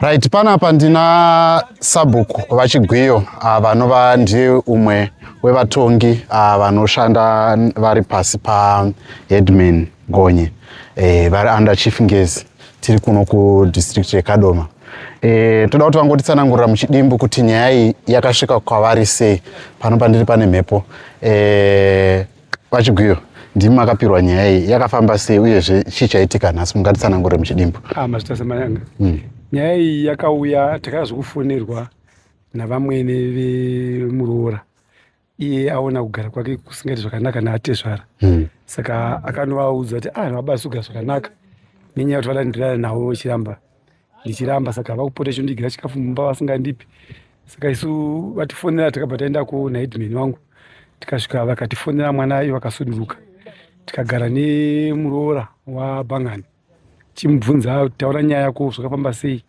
Right, panapa ndina sabhuku vachigwiyo ah, vanova ndiye umwe wevatongi ah, vanoshanda vari pasi paheadman Gonye eh, vari under chief Ngezi tiri kuno kudistrict yeKadoma. E, toda kuti vangotitsanangurira muchidimbu kuti nyaya iyi yakasvika kwavari sei pano pandiri pane mhepo e, VaChigwiyo, ndimi makapirwa nyaya iyi yakafamba sei uyezve chii chaitika nhasi mungatitsanangure muchidimbu? Ah, Mazvita Samayanga. Mm. Nyaya iyi yakauya takada zvekufonerwa navamwene vemuroora iye aona kugara kwake kusingaiti zvakanaka naatezvara mm. saka akanovaudza kuti ah vabasuga zvakanaka nenyaya yekuti vadandirana navo vachiramba ndichiramba saka vakupota chondigira chikafu mumba vasingandipi saka isu vatifonera takabva taenda kuona headman wangu tikasvika vakatifonera mwana ayo vakasunduruka tikagara nemuroora wabhangani chimubvunza taura nyaya yako zvakafamba sei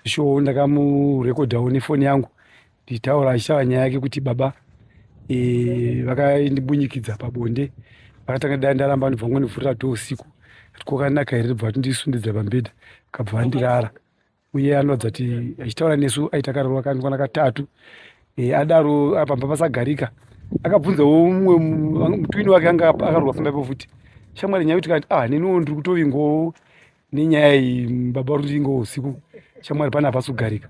sho ndakamurekodhawo nefoni yangu ndichitaura achitaura nyaya yake kuti baba e, vakandibunyikidza pabonde vakatanga dai ndaramba ndibva ngonivhurira to usiku kokanaka here bva tindisundidza pambedha kabva vandirara uye anoratidza kuti achitaura nesu aita karova kanikwana katatu e, adaro pamba pasagarika akabvunzawo umwe mutwini wake anga akarwa pamba ipo futi shamwari nyaya kuti kati ah neniwo ndiri kutovingowo nenyaya iyi baba Rundingo usiku shamwari pane hapasi kugarika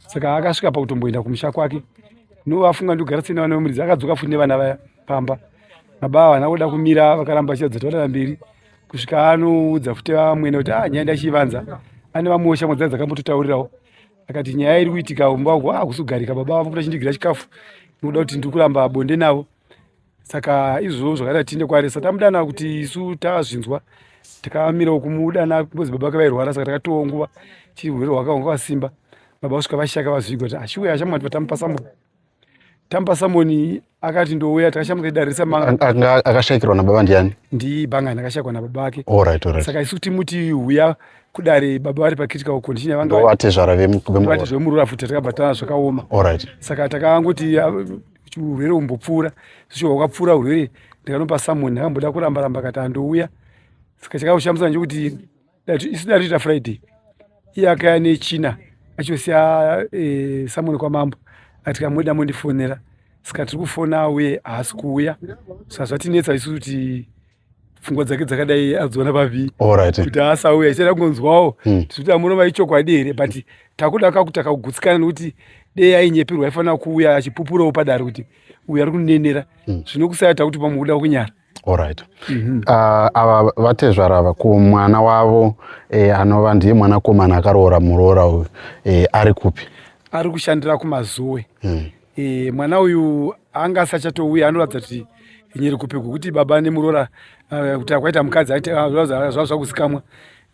saka akasvika pakutomboenda kumusha kwake novafunga ndogara sena vana vemuridzi akadzoka futi nevana vaya pamba baba ava vana voda kumira vakaramba vachidza taurana mberi kusvika anoudza futi vamwene kuti ah nyaya ndachivanza ane vamwewo shamwari dzaa dzakambototaurirawo akati nyaya iri kuitika umba uku ah kusugarika baba vavo kuti achindigira chikafu nokuda kuti ndiri kuramba bonde navo saka izvozvo zvakaita tiinde kwaari sa tamudana kuti isu tazvinzwa takamirawo kumudana because baba kavairwara saka takatowo nguva chirwere hwakanga kwasimba baba kusvika vashaka vazvigwa kuti ashuwe ashamwa kuti vatamupa samoni tamupa samoni akati ndouya takashamuka idarisa manga akashayikirwa nababa ndiani ndibhangani akashayikwa nababa ake alright alright saka isu timuti huya kudare baba vari pacritical condition yavanga vatezvara vemurura futi takabva tana zvakaoma alright saka takangoti urwere umbopfuura zvichobva kwapfuura urwere ndikanopa someone ndakamboda kuramba ramba kati andouya saka chakaushamisa ndechekuti isu datoita friday iye akaya nechina achosiya eh, someone kwamambo ati kamuda mondifonera saka tiri kufona uye haasi kuuya saka zvatinetsa isu kuti pfungwa dzake dzakadai adziona pavi kuti haasauya ichada kungonzwawo hmm. tichiti amunova ichokwadi here but takuda kakutaka kugutsikana nekuti dei ainyepirwa aifanira kuuya achipupurawo padare kuti uyu ari kunenera hmm. zvino kusayata kuti pamwe kuda kunyara orit mhm. ah, ava vatezvara ava ko mwana wavo eh, anova ndiye mwanakomana akaroora muroora uyu eh, ari kupi ari kushandira kumazuwe hmm. E, mwana uyu anga asachatouya anoratidza kuti nyere kupi kuti baba nemurora eh, kuti akwaita mukadzi ah, zvakuzikamwa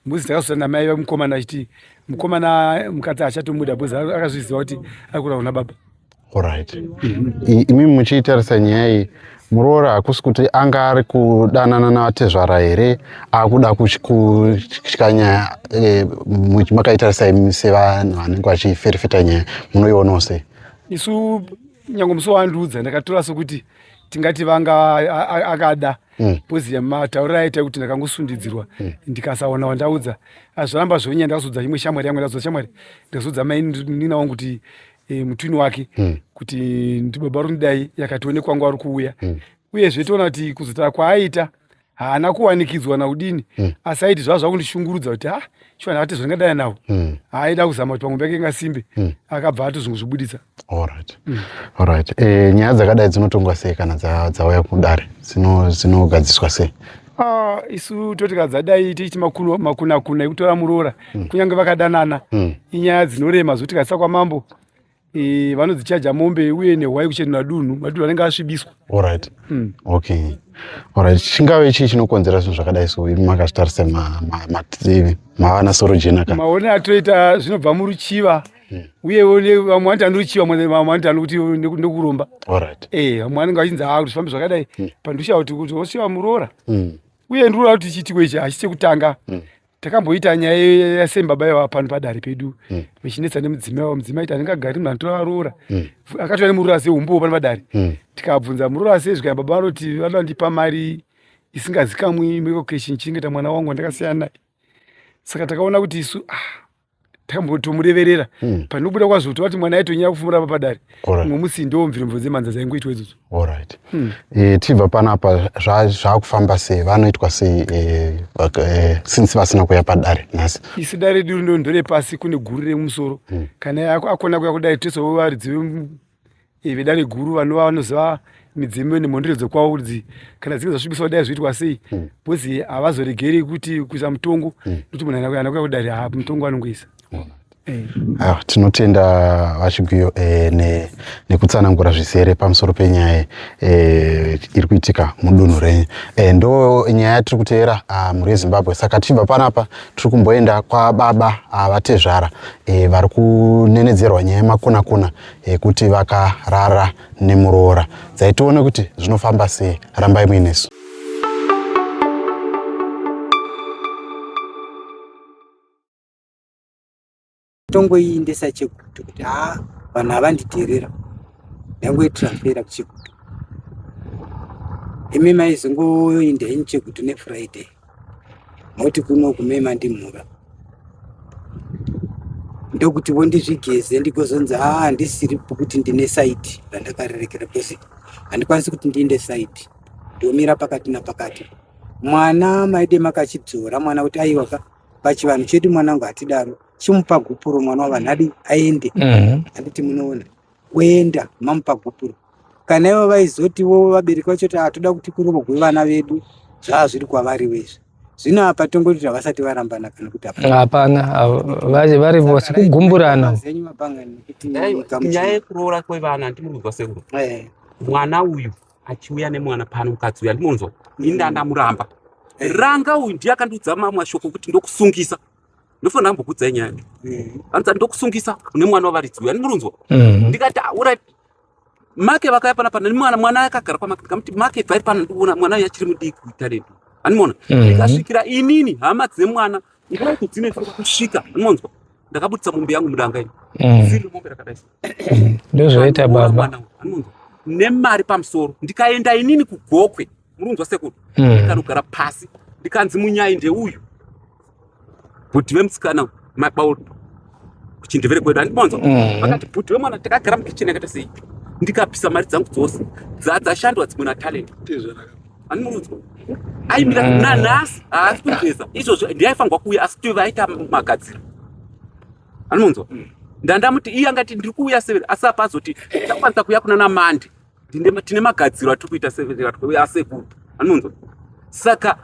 mbuzi takasota namai vemukomana achiti mukomana mukadzi achatomuda bhuzi akazviziva kuti ari kura kuna baba orit imimi muchiitarisa nyaya iyi muroora hakusi kuti anga ari kudanana navatezvara here akuda kutya nyaya eh, makaitarisa imi sevanhu vanenge vachiferefeta nyaya munoionawo sei isu nyange musi waandiudza ndakatora sokuti tingati vanga akada mm. pozi yematauriro aita kuti ndakangosundidzirwa mm. ndikasaona wandaudza azviramba zvonya ndakazodza imwe shamwari yangu ndakazodza shamwari ndakazodza mainina wangu kuti e, mutwini wake mm. kuti ndibaba rundidai yakatione kwangu ari kuuya mm. uyezve toona kuti kuzotara kwaaita haana kuwanikidzwa naudini mm. asi aiti zvava zvakundishungurudza kuti ha shuwa ndakati zvandingadana nawo mm. aida kuzama kuti pamwe pake ingasimbe mm. akabva atozongozvibuditsa allright mm. allright e, eh, nyaya dzakadai dzinotongwa sei kana dzauya kudare dzinogadziswa sei Ah, isu totika dzadai tiiti makunakuna ekutora muroora mm. kunyange vakadanana mm. inyaya dzinorema zvotikazisa kwamambo e, vanodzichaja mombe uye nehwai kuchenura dunhu madunhu anenge asvibiswa orit mm. okay orit chingave chii chinokonzera zvinhu zvakadai so imi makazvitarisa mativi maana soro jena ka maone atoita zvinobva muruchiva hmm. uye vamwe vanoti andiruchiva vamwe vanoti anokuti ndokuromba orit e eh, vamwe vanenge vachinzi haa kuti zvifambe zvakadai hmm. pandusha kuti kuti osiva muroora hmm. uye ndiroora kuti chiitiko ichi hachisi chekutanga takamboita nyaya yasei baba yava pano padare pedu mm. vechinetsa mm. nemudzimai wavo mudzimai iti anenge agari munhu anotora varoora mm. akatova nemuroora sei umbowo pano padare mm. tikabvunza muroora sei zvikaa baba vanoti vanoda vandipa mari isingazikamwi mekokeshin chingeta mwana wangu wandakasiya naye saka takaona kuti isu ah, tambotomureverera mm. panobuda kwazoto vati mwana aitonyaya kufumura pa padare mumwe musi ndiwo mvirimbo dzemanza dzaingoitwa idzodzo orit mm. e, eh, tibva panapa zvaakufamba sei vanoitwa sei e, e, since vasina kuya padare nhasi isi dare duri ndo ndore pasi kune guru remusoro mm. kana akona kuya kudare tese wovaridzi eh, vedare guru vanova vanoziva midzimu nemhondero dzokwavo kuti kana dzinge zvasvibiswa kudai zvoitwa sei mm. bcozi havazoregeri kuti kuisa mutongo mm. nokuti munhu anakuya kudare ha mutongo anongoisa eh. ah, tinotenda vachigwiyo eh, nekutsanangura zvizere pamusoro penyaya iri kuitika mudunhu renyu ndo nyaya yatiri kuteera ah, mhuri yezimbabwe saka tichibva panapa tiri kumboenda kwababa ah, vatezvara vari kunenedzerwa nyaya yemakunakuna yekuti vakarara nemuroora dzai tione kuti zvinofamba sei rambai muinesu tongoiindesa chekuti kuti haa vanhu havanditerera ndangoitransfera kuchekuti imi maizongoinda ini chekuti nefriday moti kuno kume mandimhura ndokuti vondizvigeze ndikozonzi haa ah, handisiri pokuti ndine saidi randakarerekera bcause handikwanisi kuti ndiinde saidi ndomira pakati napakati mwana maide makachidzora mwana kuti aiwa ka pachivanhu chedu mwanangu hatidaro chimupa gupuro mwana wavanhu adi aende mhm. handiti munoona kuenda mamupa gupuro kana ivo vaizotiwo vabereki vacho kuti hatoda kuti kurogwe vana vedu zvava zviri kwavari wezvi zvino apa tongoti kuti havasati varambana kana kuti hapana vari vose kugumburana zenyu mapanga nekuti nyaya yekuroora kwevana ndimuri kunzwa sekuru eh. mwana uyu achiuya nemwana pano mukadzi uyu andimunzwa ini ndandamuramba ranga uyu ndiye akandiudza mamwe mashoko kuti ndokusungisa ndofanira kumbokudzai nyaya anzi ndokusungisa une mwana wavaridzi uyu andirunzwa mhm. ndikati aurai make vakaya pana pana mwana mwana akagara kwamake ndikamuti make bvai pana ndikuona mwana uyu achiri mudiki kuita redu animoona mhm. ndikasvikira inini hama dzemwana ndikati dzine kusvika anonzwa ndakabudisa mombe yangu mudanga ini mhm. ziri mombe rakadai ndozvoita baba nemari pamusoro ndikaenda inini kugokwe muri kunzwa sekuru hmm. ndikanogara pasi ndikanzi munyai ndeuyu bhuti vemusikana mabauro kuchindevere kwedu andimonzwa hmm. vakati bhuti vemwana takagara mukicheni akaita sei ndikabvisa mari dzangu dzose dzadzashandwa dzimwe natalent ani muri kunzwa aimira hmm. nanhasi haasi kugeza izvozvo ndiaifanirwa kuuya asi tove aita magadziro ani munzwa ndandamuti iye angati ndiri kuuya severi asi apazoti ndakwanisa kuuya kuna namandi tine magadziro atiri kuita sevatwe asekuru anonzwa saka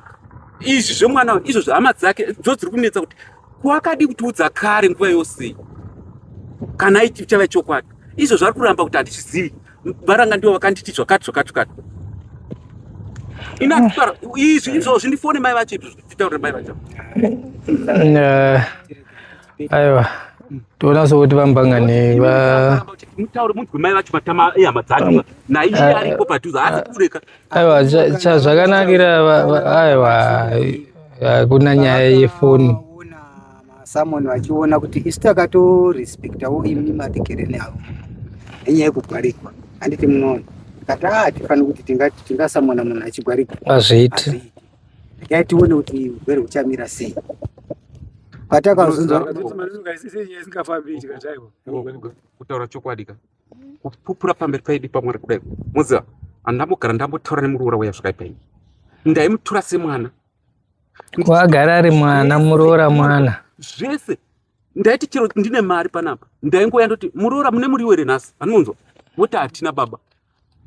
izvi zvemwana izvo zvehama dzake dzo dziri kunetsa kuti kwakadi kutiudza kare nguva yose kana ichava chokwadi izvo zvari kuramba kuti handizvizivi varanga ndivo vakanditi zvakati zvakati zvakati inakutaura izvi izvozvi ndifone mai vacho izvi zvitaure mai vacho eh, aiwa toona sokuti vambangane mutaure munzwe mai vacho matama ehama dzacho naiye ah, ariko padhuze haasi ah, kureka aiwa chazvakanakira aiwa hakuna nyaya yefoni someone vachiona kuti isu takatorespectawo imi matikereni avo nenyaya yekugwarikwa handiti munoona kati haa tifanire kuti tingasamona munhu achigwarikwa hazviiti Regai tione kuti hurwere huchamira sei. Patakazunzwa kutaura chokwadi ka kupupura pamberi paidi pamwana kudai moziva andambogara ndambotaura nemuroora waya zvakaipai ndaimutura semwana kwagara ari mwana muroora mwana zvese ndaiti chero ndine mari panapa ndaingouya ndoti muroora mune muriwo here nhasi anonzwa voti hatina baba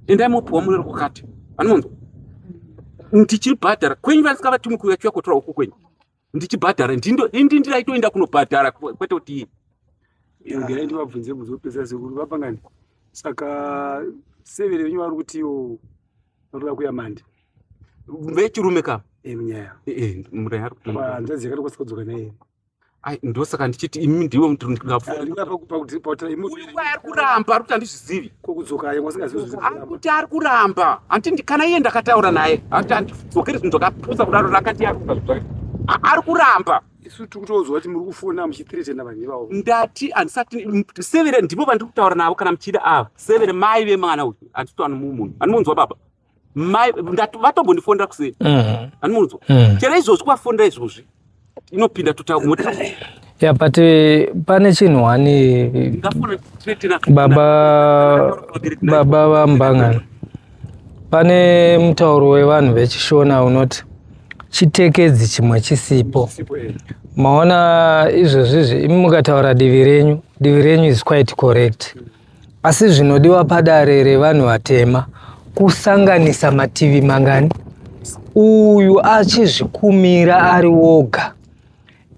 endai mopiwa murero wakati vanonzwa ndichibhadhara kwenyu vasisavatumi kuuya chiuya kotora uku kwenyu ndichibhadhara indi ndiraitoenda kunobhadhara kwete kuti iye ngerai ndivabvunze muzopedzera sekuru vapangani saka severe venyu vari kutiwo vanoda kuya mandi vechirume ka munyaya hanzvadzi yakatokwanisa kudzoka naye Ai ndosaka ndichiti imi ndiwe mtu ndingafuaari kuramba ari kuti andizvizivi ari kuti ari kuramba hanti kana iye ndakataura naye hanti andidzokeri zvinhu zvakapusa kudaro rakati yaruka ari kuramba isu tiri kutoudzwa kuti muri kufona muchitiretena vanhu ivavo ndati handisati severe ndivo vandiri kutaura navo kana muchida ava severe mai vemwana uyu handiti anomumunhu anomunzwa baba vatombondifonera kuseni mm. andimunzwa mm. chero izvozvi kuvafonera izvozvi inopinda tutaumoti ya but eh, pane chinhu wani baba baba vambangana pane mutauro wevanhu vechishona unoti chitekedzi chimwe chisipo eh. maona izvozvizvi imi mukataura divi renyu divi renyu is quite correct mm. Asi zvinodiwa padare revanhu vatema kusanganisa mativi mangani? Uyu achizvikumira ari woga,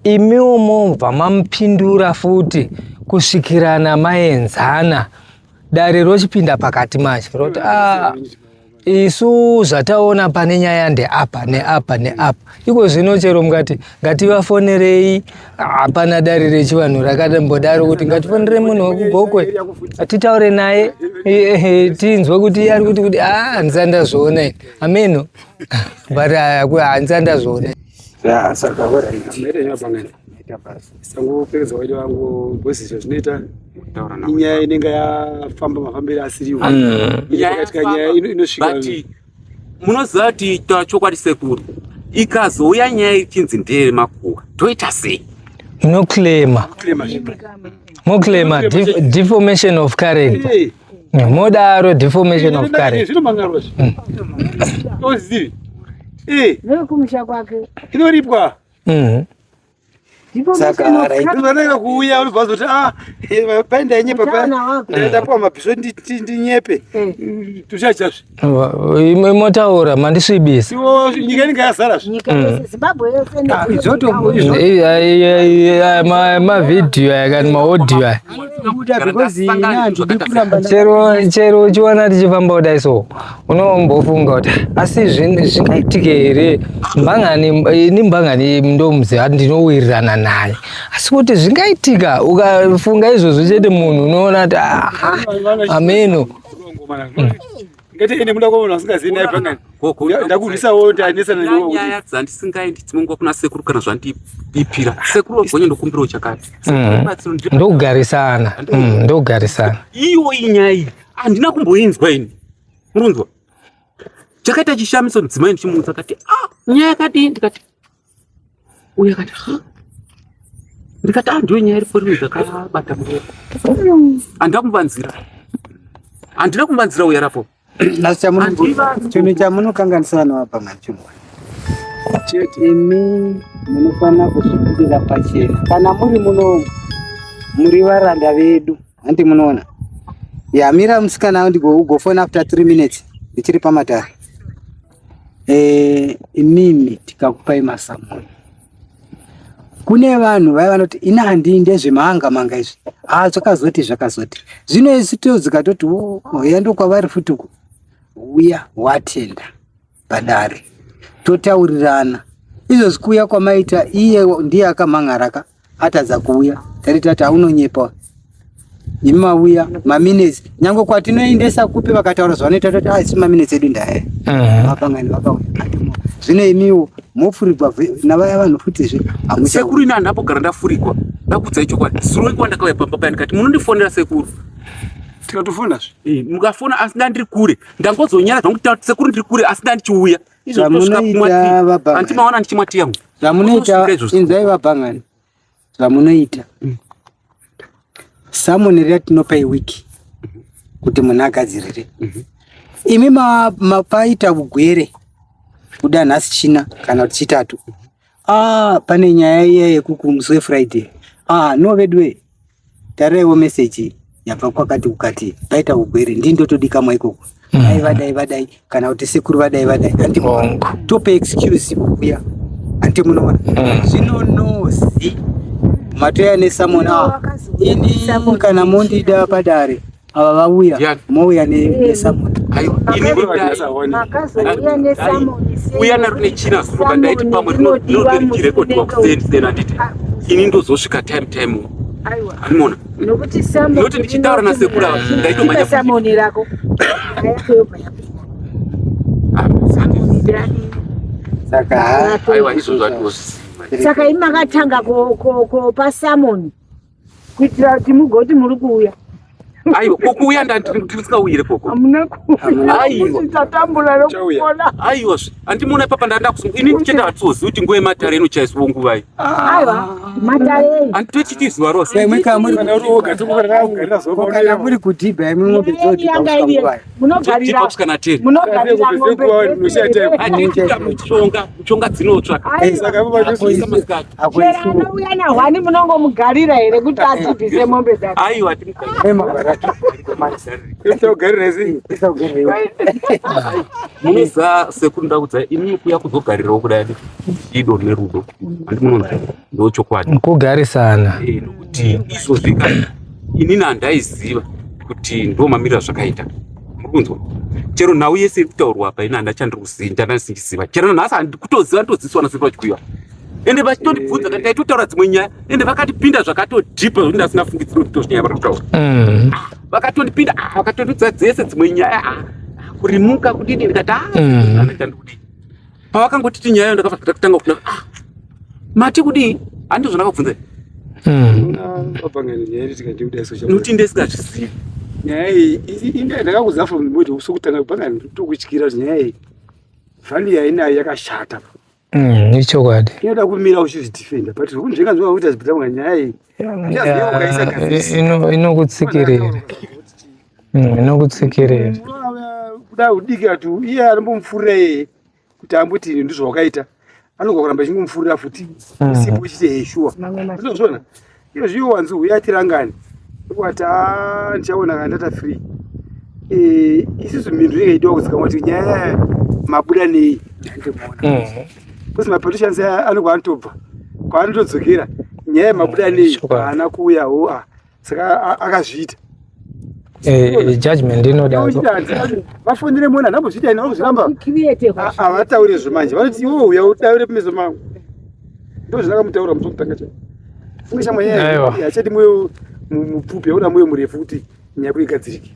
imiwo mobva mamupindura futi kusvikirana maenzana. Dare rochipinda pakati manje roti ah, isu zvataona pane nyaya ndeapa neapa neapa iko zvino chero mukati ngativafonerei hapana dare rechivanhu rakambodaro kuti ngatifonere munhu wekugokwe titaure naye tinzwe kuti iye ari kuti kuti a ah, handisi andazviona ameno but ah, handisi andazviona ita basa sangopedza waida vangu bhosi izvo zvinoita inyaya inenge yafamba mafambiro asiriwo mm. inyayakatika nyaya inosvika munoziva kuti itaura chokwadi sekuru ikazouya nyaya ichinzi ndeye makuwa toita sei inoclaima moclaima deformation of character modaro deformation of character mm. inoripwa mm. sakaanenge kuuya unobva zoti ah, eh, paenda yenye papandapuwa mabhiso ndinyepe eh. tuchachazve imwe motaura mandisvibisa nyika inenge yazarasmavhidhiyo aya kani maodhiyo aya chero uchiona tichifamba kudai so unombofunga kuti asi zvingaitike here mbangani ini mbangani ndomuzi ndinowirirana naye asi kuti zvingaitika ukafunga izvozvo chete munhu unoona kuti ah, ah, ameno hmm. ndokugarisana ndokugarisana iwo inyaya handina kumboinzwa ini Munzwa. Chakaita chishamiso mudzimai ndichimuudza kati, "Ah, nyaya yakadii?" ndikati, "Uya kati, "Ha?" Ndikati, "Ah, ndiyo nyaya iripo rimwe dzakabata muoko." Andina kumbanzira. Andina kumbanzira uya rapo. Asi chamuno chimwe chamunokanganisa vanhu apa machimwe. Chete imi munofanira kuzvipirira pachena. Kana muri muno muri varanda vedu. Hanti munoona. Yamira musikana ndigo ugofona after 3 minutes ndichiri pamatare. Eh, inini tikakupai masamoni. Kune vanhu vaya vanoti ina handi ndezvemanga manga izvi. Ah, zvakazoti zvakazoti. Zvino isu todzika toti oh, oh yando kwavari futi uko. Uya watenda padare. Totaurirana. Izvo zvikuya kwamaita iye ndiye akamhan'araka. atadza kuuya tari tati aunonyepa imi mauya maminetsi nyange kwatinoendesa kupi vakataura zvavanoita tati asi ah, maminetsi edu ndaya mhm. vapangani vakauya zvino imiwo mofurigwa navaya vanhu futizve sekuru ini handapo gara ndafurigwa ndakudzai chokwadi zuro ikuwa ndakauya pamba paya ndikati munondifonera sekuru tikatofonazve eh, mukafona asi ndandiri kure ndangozonyara zvangu sekuru ndiri kure asi ndandichiuya zvamunoita vabangandimaona ndichimwatiya mu zvamunoita inzai vabangani zvamunoita samoni riya tinopa iwiki kuti munhu agadzirire mhm. imi mapaita ugwere kuda nhasi china kana kuti chitatu Ah, pane nyaya iya yekuku musi wefriday ah no veduwe taraiwo meseji yabva kwakati kukati paita ugwere ndini ndotodikamwa ikoko dai vadai vadai kana kuti sekuru vadai vadai hanti Wrong. tope excuse kuya hanti munoona zvino nozi matoya nesamona ini kana mondida padare ava vauya mouya nesamoni uya naro nechina zuruka ndaiti pamwe rinode richirekodhiwa kuseni seni anditi ah, ini ndozosvika time time arimona noti ndichitaura nasekura ndaitomanya samoni rako saka aiwa izvo zvatiwo saka imakatanga kopa samoni kuitira kuti mugoti muri kuuya aiwa kokuuya ndatirisikauire koko aiwa aiwa andimuona ipapa ndandakusunga ini ndichenda hatizozivi kuti nguva yematare inochaisiwo nguvai anditochiti zuva rosemuri kudhibha imwe mombe dzodhibha munogarira munogarira mombe muchonga muchonga dzinotsva anouya nahwani munongomugarira here kuti adzibvise mombe dzake aiwa munoza sekuru ndakudzai imi kuya kuzogarirawo kudai ido nerudo handi munonzwa ndochokwadi kugarisana eh, nokuti izvozvi kana inini handaiziva kuti ndo mamiriro azvakaita muri kunzwa chero nhau yese iri kutaurwa apa ini handa chandiri kuzinda ndandisichiziva chero nanhasi handikutoziva nditodzidziswa nasiri vachikuiwa ende vachitondibvunza kati taitotaura dzimwe nyaya ende vakatipinda zvakatodhipa zvekuti ndasina fungidziro kuti tozvinyaya vari kutaura mm. vakatondipinda ah, vakatondidza dzese dzimwe nyaya ah, kurimuka kudini ndikati ah, mm. andichandikudii pavakangotiti nyaya yo ndakabva ndakutanga kuna ah, mati kudii handi zvandakabvunza hmm. nokuti ndisingazvizivi nyaya iyi ndakakuziva from mode sokutanga panga ndokutyira kuti nyaya iyi vhani yainayo yakashata hmm, ichokwadi inoda kumira uchizvidefenda but zvekunzvenga zvingakuita zvipita kunga nyaya iyi inokutsikirira mm, inokutsikirira kuda udiki ati iye anombomufurira iyeye kuti ambuti ini ndizvo wakaita anogona kuramba echingomufurira futi mm. isipo chiti heshuwa zvinozvona iyo zviyo wanzi uya atirangani wati a ndichaona kana ndata free eh, isusu mhindu inenge idiwa kuzikamwa kuti nyaya mabuda nei ndandimuona mm. because mapoliticians aya anobva anotobva kwaanotodzokera nyaya yemabuda nei haana kuuya ho a saka akazviita eh, judgment inoda vafonere mona nambozviita ina vanozviramba havataure zvo manje vanoti iwo uya udaure pameso mangu ndo zvakamutaura musokutanga chai funge shamwa nyaya yachati moyo mupfupi yaona moyo murefu kuti nyaya kuigadzirike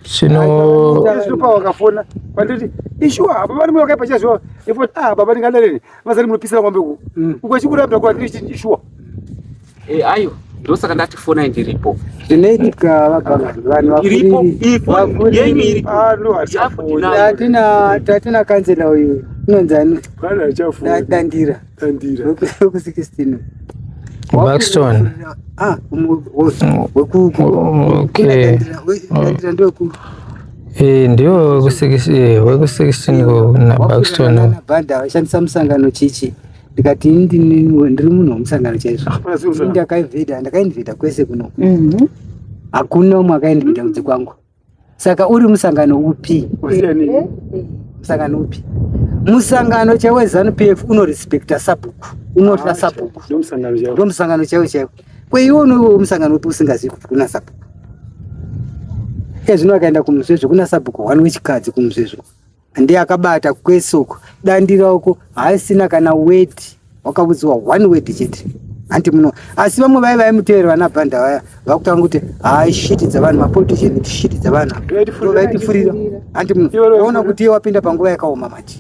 chinopa wakafona panditi ishuwa apa pane mwe wakaipa chazviwa efot a ah, baba ndingadareni vazari munopisira kwambe ku mm. ukachikurabda kuati ishuwa eh, ayo ndosaka ndati fonai ndiripo tatina kanzela uyu inonzi ani dandira Tandira. Weku 16. Buxton. Ah, weku okay. Tandira ndio ku Eh, ndio weku 16 eh, weku 16 go na Buxton. Na banda shandisa musangano chichi. Ndikati ndini ndiri munhu musangano chaizvo. Ndakaivheda, ndakainvheda kwese kuno. Mhm. Hakuna umwe akainvheda kudzi kwangu. saka uri musangano upi musangano upi musangano chaiwo zanu p f unorespecta sabhuku unotya ah, sabhuku ndo musangano chaiwo chaiwo kweiwe unoiwe musangano upi usingazivi kuti kuna sabhuku ezvino akaenda kumusvezvo kuna sabhuku one wechikadzi kumusvezvo ndiye akabata kwese uko dandira uko haisina kana weti wakaudziwa one weti chete hanti muno asi vamwe vaye vaimutevera vana bhanda vaya vakutanga kuti hai shiti dzavanhu mapolitician ti shiti dzavanhu vaitifurira hanti muno vaona kuti iye wapinda panguva yakaoma manje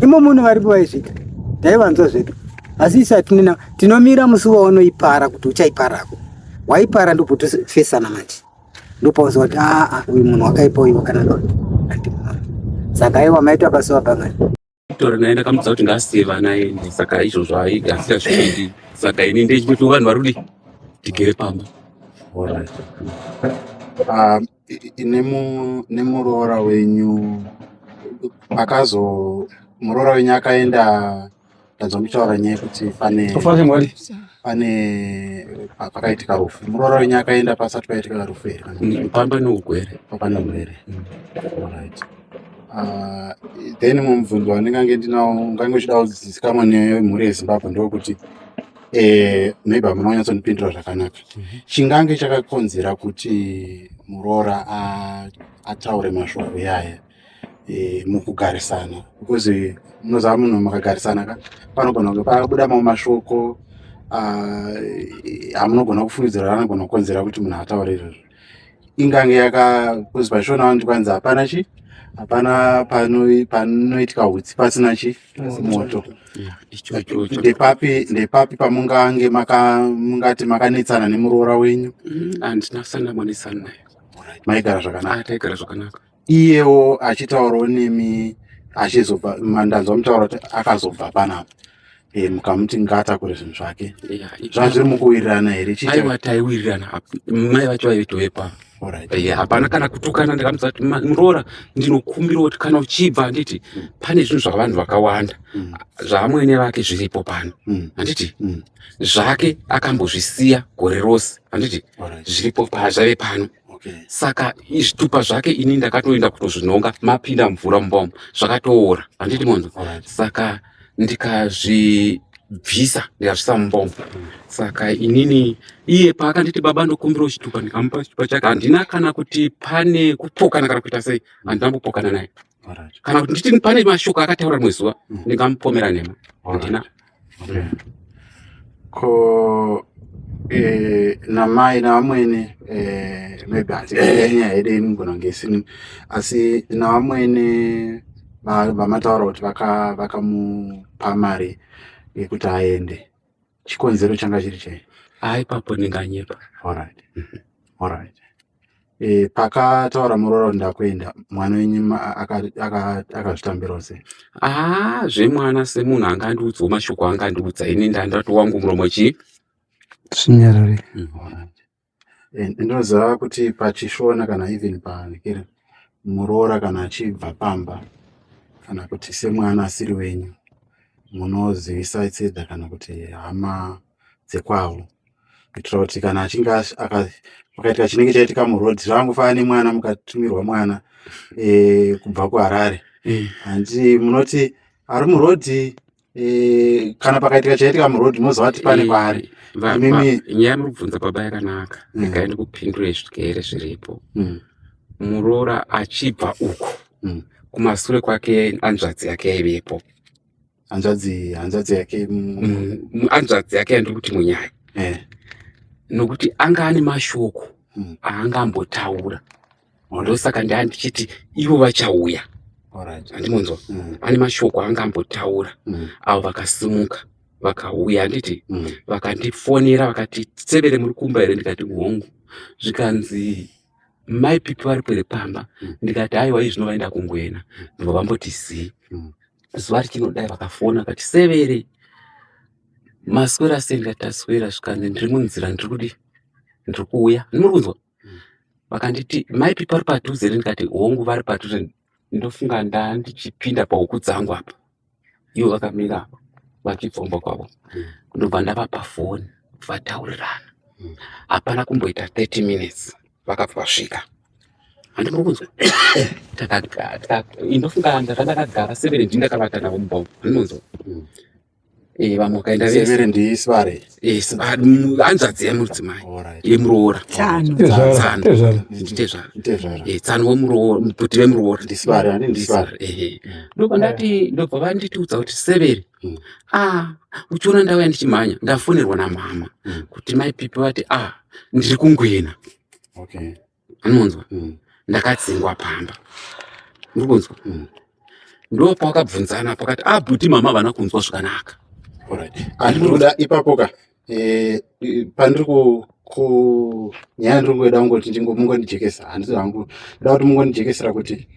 imo munhu varipo vaizvita taivanzwa zvedu asi isati nina tinomira musi waunoipara kuti uchaiparako waipara ndobvotofesana manje ndopaunzwa kuti aa ah, ah, uyu munhu wakaipa uyu kana noti saka aiwa maitwa pasuwa pangani tora naye ndakamudza kuti ngasiye vana ende saka izvozvo aigafira zvikundi saka ini ndechikuti vanhu vari kudi tigere pamba ah, nemuroora wenyu akazo muroora wenyu akaenda Ndadzwa muchitaura nyaya yekuti pane pane pakaitika rufu muroora wenyu akaenda pasati paitika rufu here mm, pamba neugwere papane ugwere mm. right uh, then mumubvunzo wandingange ndinawo ungange uchida kuzizikamwa nemhuri yezimbabwe ndokuti eh, maybe hamuna kunyatsondipindura zvakanaka mhm. chingange chakakonzera kuti muroora ataure mashoko yaya eh, mukugarisana because eh, munoziva munhu makagarisana ka panogona kunge pabuda mamwe mashoko ah, amunogona kufungidzira anogona kukonzera kuti munhu ataure izvozvo ingange yaka because pachionawo ndikwanzi hapana chi hapana panoitika hutsi pasina chi moto ndepapi ndepapi pamungange mungati makanetsana nemuroora wenyu mm, andina sanamwanetsana naye maigara zvakanaka ah, taigara zvakanaka iyewo achitaurawo nemi achizobva mandanzwa mutaura kuti akazobva panapa eh, mukamuti ngaatakure zvinhu zvake zvazviri mukuwirirana here chiaiwa taiwirirana mai vacho vaitoe pano Eh, hapana kana kutukana ndikamuza kuti muroora ndinokumbira kuti kana uchibva handiti mm. pane zvinhu zvavanhu vakawanda mm. zvaamwene vake zviripo pano mm. handiti zvake akambozvisiya gore rose handiti zviripo zvave pano Okay. Saka zvitupa zvake ini ndakatoenda kutozvinhonga mapinda mvura mumba umu zvakatoora handiti munhu right. saka ndikazvibvisa ndikazvisa mumba umu mm. saka inini iye paakanditi baba ndokumbirawo chitupa ndikamupa chitupa chake handina kana kuti pane kupokana kana kuita sei handina kupokana naye kana kuti nditi pane mashoko akataura rimwe zuva mm. ndingamupomera nhema handina ko eh, namai navamwene eh, maybe asi eh. nyaya yedu inogona kunge isini asi navamwene vamataura kuti vakamupa mari yekuti aende chikonzero changa chiri chei a ipapo ndinganyepa orit mhm. orit e, eh, pakataura muroora kuti ndakuenda mwana wenyu akazvitambirawo sei a ah, zvemwana semunhu anga andiudzawo mashoko anga andiudza ini ndandatovangu muromo chii zvinyarare mm, Ndinoziva kuti pachishona kana even pakiri muroora kana achibva pamba kana kuti semwana asiri wenyu munozivisa tseda kana kuti hama dzekwavo kuitira kuti kana achinge pakaitika chinenge chaitika muroad zvaangofana nemwana mukatumirwa mwana eh, kubva kuharare eh. handi munoti ari murodhi Eh, kana pakaitika chaitika muroad moziva kuti pane eh, kwaari nyaya yamurikubvunza baba yakanaka mm. regai ndikupindure zvigere zviripo mm. muroora achibva uko mm. kumasure kwake anzvadzi yake yaivepo hanzvadzi hanzvadzi yake hanzvadzi yake yandiri kuti munyaya eh. nokuti anga ane mashoko aanga ambotaura ndosaka ndaa ndichiti ivo vachauya andimunzwa mm. ane mashoko anga ambotaura mm. avo vakasimuka vakauya anditi mm. vakandifonera vakati severe muri kumba here ndikati hongu zvikanzi mai pipi vari pwere pamba ndikati haiwa izvi zvinovaenda kungwena ndibva vamboti zii zuva richinodai vakafona vakati severe maswera sei ndikati aswera zvikanzi ndiri munzira ndiri kudi ndiri kuuya ndimuri kunzwa vakanditi maipi pari padhuze here ndikati hongu vari padhuze ndofunga ndandichipinda pahuku dzangu apa ivo vakamira apa vachipfomba kwavo ndobva ndavapa foni vataurirana hapana kumboita 30 minutes vakabva vasvika handinokunzwa ndofunga ndakandakagara severendi ndakavata navo mubhombo handinonzwa Eh, vanhu vakaenda vese ndisibare eh, hanzvadzi yemudzimai yemuroora tsano wemuroorabhuti vemuroora ndobva ndati ndobva vanditiudza kuti severi hmm. a ah, uchiona ndauya ndichimhanya ndafonerwa namama hmm. kuti mai pipi vati a ah, ndiri kungwena anonzwa mm. ndakadzingwa pamba ndikunzwa mm. ndo pawakabvunzana pakati abhuti ah, mama havana kunzwa zvakanaka andinoda ipapo ka eh, pandiri kunyaya ndiri kueda kungoti mungondijekesa handisi hangu ndoda kuti mungondijekesera kuti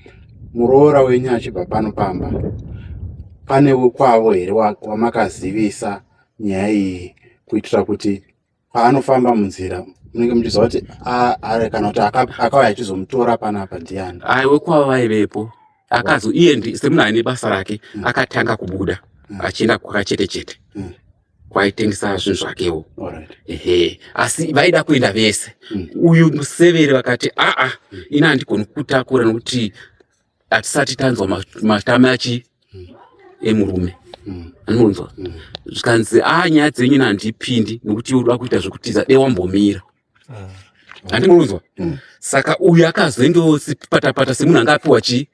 muroora wenyu achibva pano pamba pane kwavo here wamakazivisa nyaya iyi kuitira kuti paanofamba munzira munenge muchiziva kuti ari kana kuti akauya achizomutora panapa ndiani aiwe kwava vaivepo akazo iye ndi semunhu aine basa rake mm. akatanga kubuda mm. achienda kwakachete chete mm. kwaitengesa zvinhu zvakewo ehe asi vaida kuenda vese uyu museveri vakati aa ini handikoni kutakura nokuti hatisati tanzwa matame achi hmm. emurume hmm. anonzwa hmm. zvikanzi a ah, nyaya dzenyu nandipindi nokuti uda kuita zvekutiza de wambomira ah. andinonzwa saka uyu akazoingewosipatapata semunhu anga apiwa chii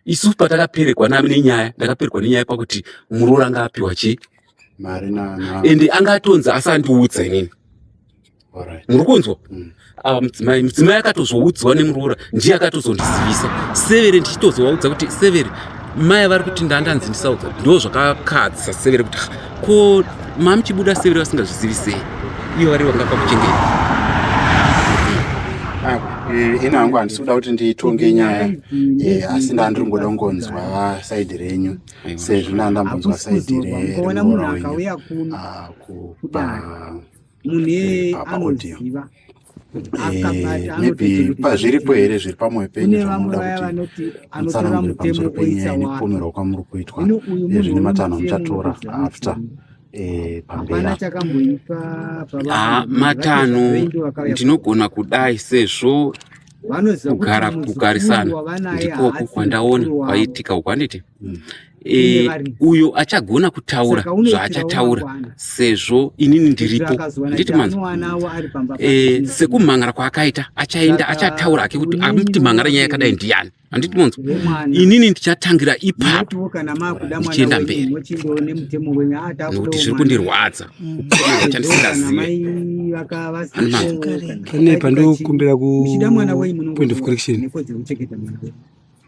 isu patakaperekwa nami nenyaya ndakaperekwa nenyaya pakuti muroora anga apiwa chii ende anga atonzi asandiudza inini muri kunzwa mm. ah, mudzimai mudzimai akatozoudzwa nemuroora ndiye akatozondizivisa severe ndichitozovaudza kuti severe mai vari kuti ndandanzi ndisaudza ndo zvakakadzisa severe kuti ko mamuchibuda severe vasingazvizivisei iyo vari vanga pakuchengeta ah, eh, ini hangu handisi kuda kuti nditonge nyaya eh, asi ndandiri ngoda kungonzwa saidi renyu sezvo ndandambonzwa saidi remuroora wenyu ah, kupa mune anoziva maybe pazviripo here zviri pamwe penyu zvamunoda kuti mutsanangure pamusoro penyaya nekupomerwa kwamuri kuitwa zvine matanho amuchatora after Eh, pambera ah, matanho ndinogona kudai sezvo kugara kugarisana ndikoku kwandaona kwaitika uku handiti mm. e, uyo achagona kutaura zvaachataura sezvo inini ndiripo handiti manzi e, sekumhan'ara kwaakaita achaenda achataura ake kuti amti mhan'ara nyaya yakadai ndiyani handiti monzwa inini ndichatangira ipapo ndichienda mberi nokuti zviri kundirwadza chandisingazive pane pandokumbira kupoint of correction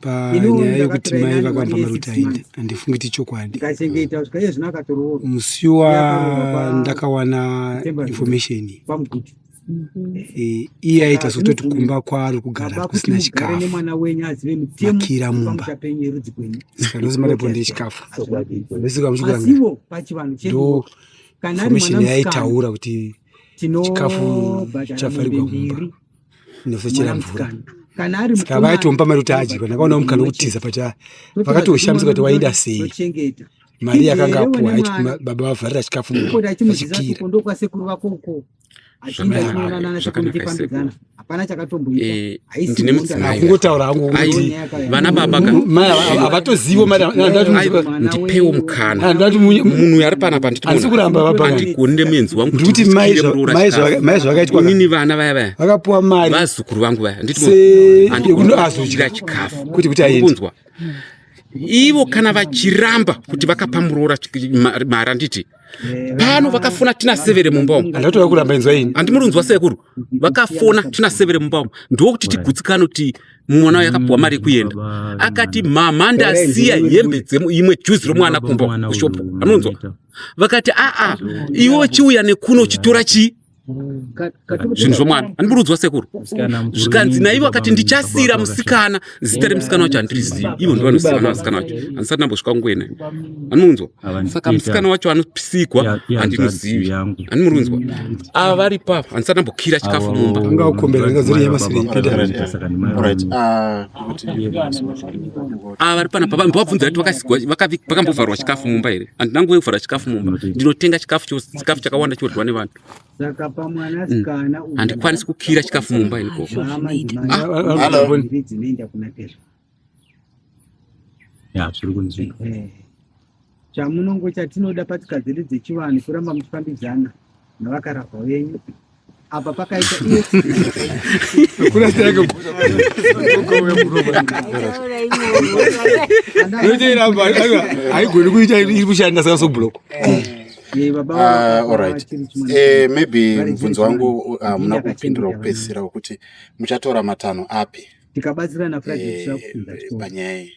panyaya yekuti mai vakamba maruti ainde handifungi ti chokwadi musi wandakawana information Eh, iye aita sototi kumba kwaari kugara kusina chikafumakira mumba saka ndozimaripo ndiri chikafu ndosika muchigangafomishini yaitaura kuti chikafu chafarirwa mumba nosechera mvura saka vaitomba mari kuti adye ndakaona mukana wekutiza pati vakatoshamisika kuti waida sei mari yakanga apuwa baba vavharira chikafu mumba vachikira atingainanatekumbikwandidzana vana baba ka havatozivo ndipewo mukana munhu uyo ari pana panditiandigoni ndemuenzi wangu ndikuti mai zvavakaitwa inini vana vaya vaya vakapuwa mari vazukuru vangu vaya nditiazodya chikafu kuti kuti aendeunzwa ivo kana vachiramba kuti vakapa muroora mari anditi pano vakafona tina severe mumba umu handatoda kuramba inzwa ini handimuri unzwa sekuru vakafona tina severe mumba umu ndokuti tigutsikane kuti mwana uyo akapuwa mari yekuenda akati mama ndasiya hembe dzeimwe juzi romwana kumba kushopu anonzwa vakati aa iwe uchiuya nekuno uchitora chii zvinhu zvomwana andiburudzwa sekuru zvikanzi naivo akati ndichasira musikana zita remusikana wacho handirizivi ivo ndo vanosiyana vasikana wacho handisati nambosvika kungoena andimunzwa saka musikana wacho anopisigwa handinozivi andimurinzwa ava vari papa handisati nambokira chikafu mumba ava ah, vari panapa vambovabvunza kuti vakasigwa vakambovharwa chikafu mumba here handina nguva yekuvhara chikafu mumba ndinotenga chikafu chose chikafu chakawanda chinoryiwa nevanhu mm. handikwanisi kukira chikafu mumba iniko ah. Chamunongo chatinoda patsika dzedu dzechivanhu kuramba muchifambidzana navakarahwa venyu apa pakaita haigoni kuita iri kushanda saka sobloko maybe mubvunzo wangu hamuna ah, kupindura kupedzisira wekuti muchatora matanho api tikabatsirana eh, panyaya iyi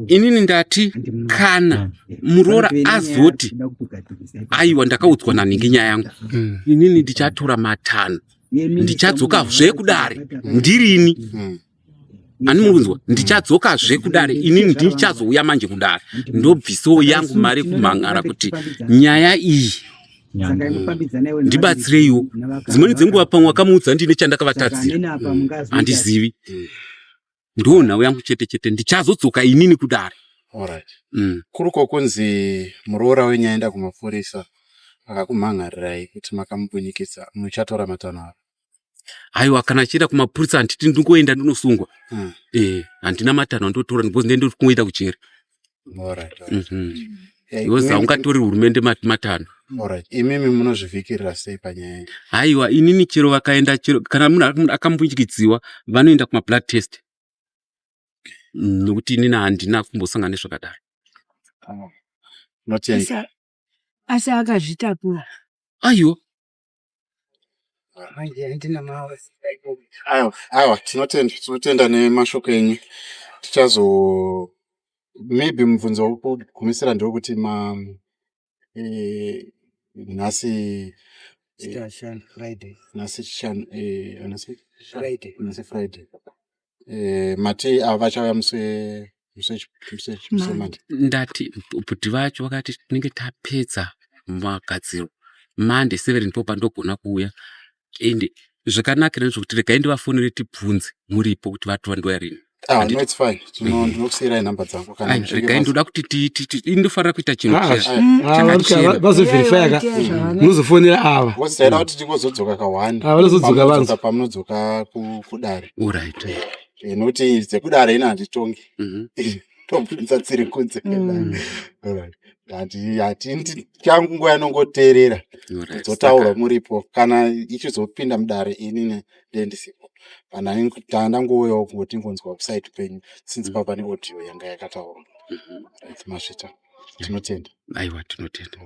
inini ndati kana muroora azoti aiwa ndakaudzwa nanhingi nyaya yangu mm. inini ndichatora matanho ndichadzoka zve kudare ndirini mm. ani muri kunzwa mm. ndichadzoka zve kudare inini ndichazouya manje kudare ndobvisawo yangu mari kumhan'ara kuti nyaya iyi ndibatsireiwo dzimweni dzenguva pamwe wakamuudza ndine chandakavatadzira handizivi ndiwo nhau yangu chete chete ndichazodzoka inini kudare Alright. Mm. Kuri kokunzi muroora wenyu aenda kumapurisa akakumhan'arirai kuti makamubunyikidza muchatora matanho avo. Haiwa kana achienda kumapurisa handiti ndingoenda ndinosungwa. Mm. Eh, handina matanho andotora because ndendiri kungoenda kujeri. because haungatori hurumende matano imimi munozvivhikirira sei panyaya iyi haiwa inini chero vakaenda chero kana munhu akambunyikidziwa vanoenda kumablood test nokuti inini handina kumbosangana nezvakadai ah, asi akazvitakura aiwa aiwa tinotenda tinotenda nemashoko enyu tichazo maybe mubvunzo wekugumisira ndewekuti ma eh, nhasi eh, nhasi chishanu eh, nhasi Friday. nhasi friday Eh, mati ava vachauya muse muse muse muse mandi ndati bhuti vacho vakati tinenge tapedza magadziro mande seven ndipo pandogona kuuya ende zvakanakira ndezvokuti regai ndivafonere tibvunze muripo kuti vatova ndouya rini ah Handiti- no it's fine tino Eh. ndinokusiirai nhamba dzangu kana Ai, muchinge regai mas- ndoda kuti ti- ti- ti- inofanira kuita chinhu Ah, chese ah, ah, chakachena. vanoka- vazoverifya ka munozofonera ava Boss, taida kuti tingozodzoka kahwani Ah, vanozodzoka vanzi. pamunodzoka ku- kudare Alright. Eh, eh, nokuti dzekudare ina handitongi mhm. tobvunza dziri kunze mm. changu nguva yanongoteerera dzotaurwa muripo kana ichizopinda mudare ini ndendisipo kana ndangouyawo kungoti ngonzwa website penyu since mm. pava neaudio yanga yakataurwa mhm. masvita tinotenda aiwa tinotenda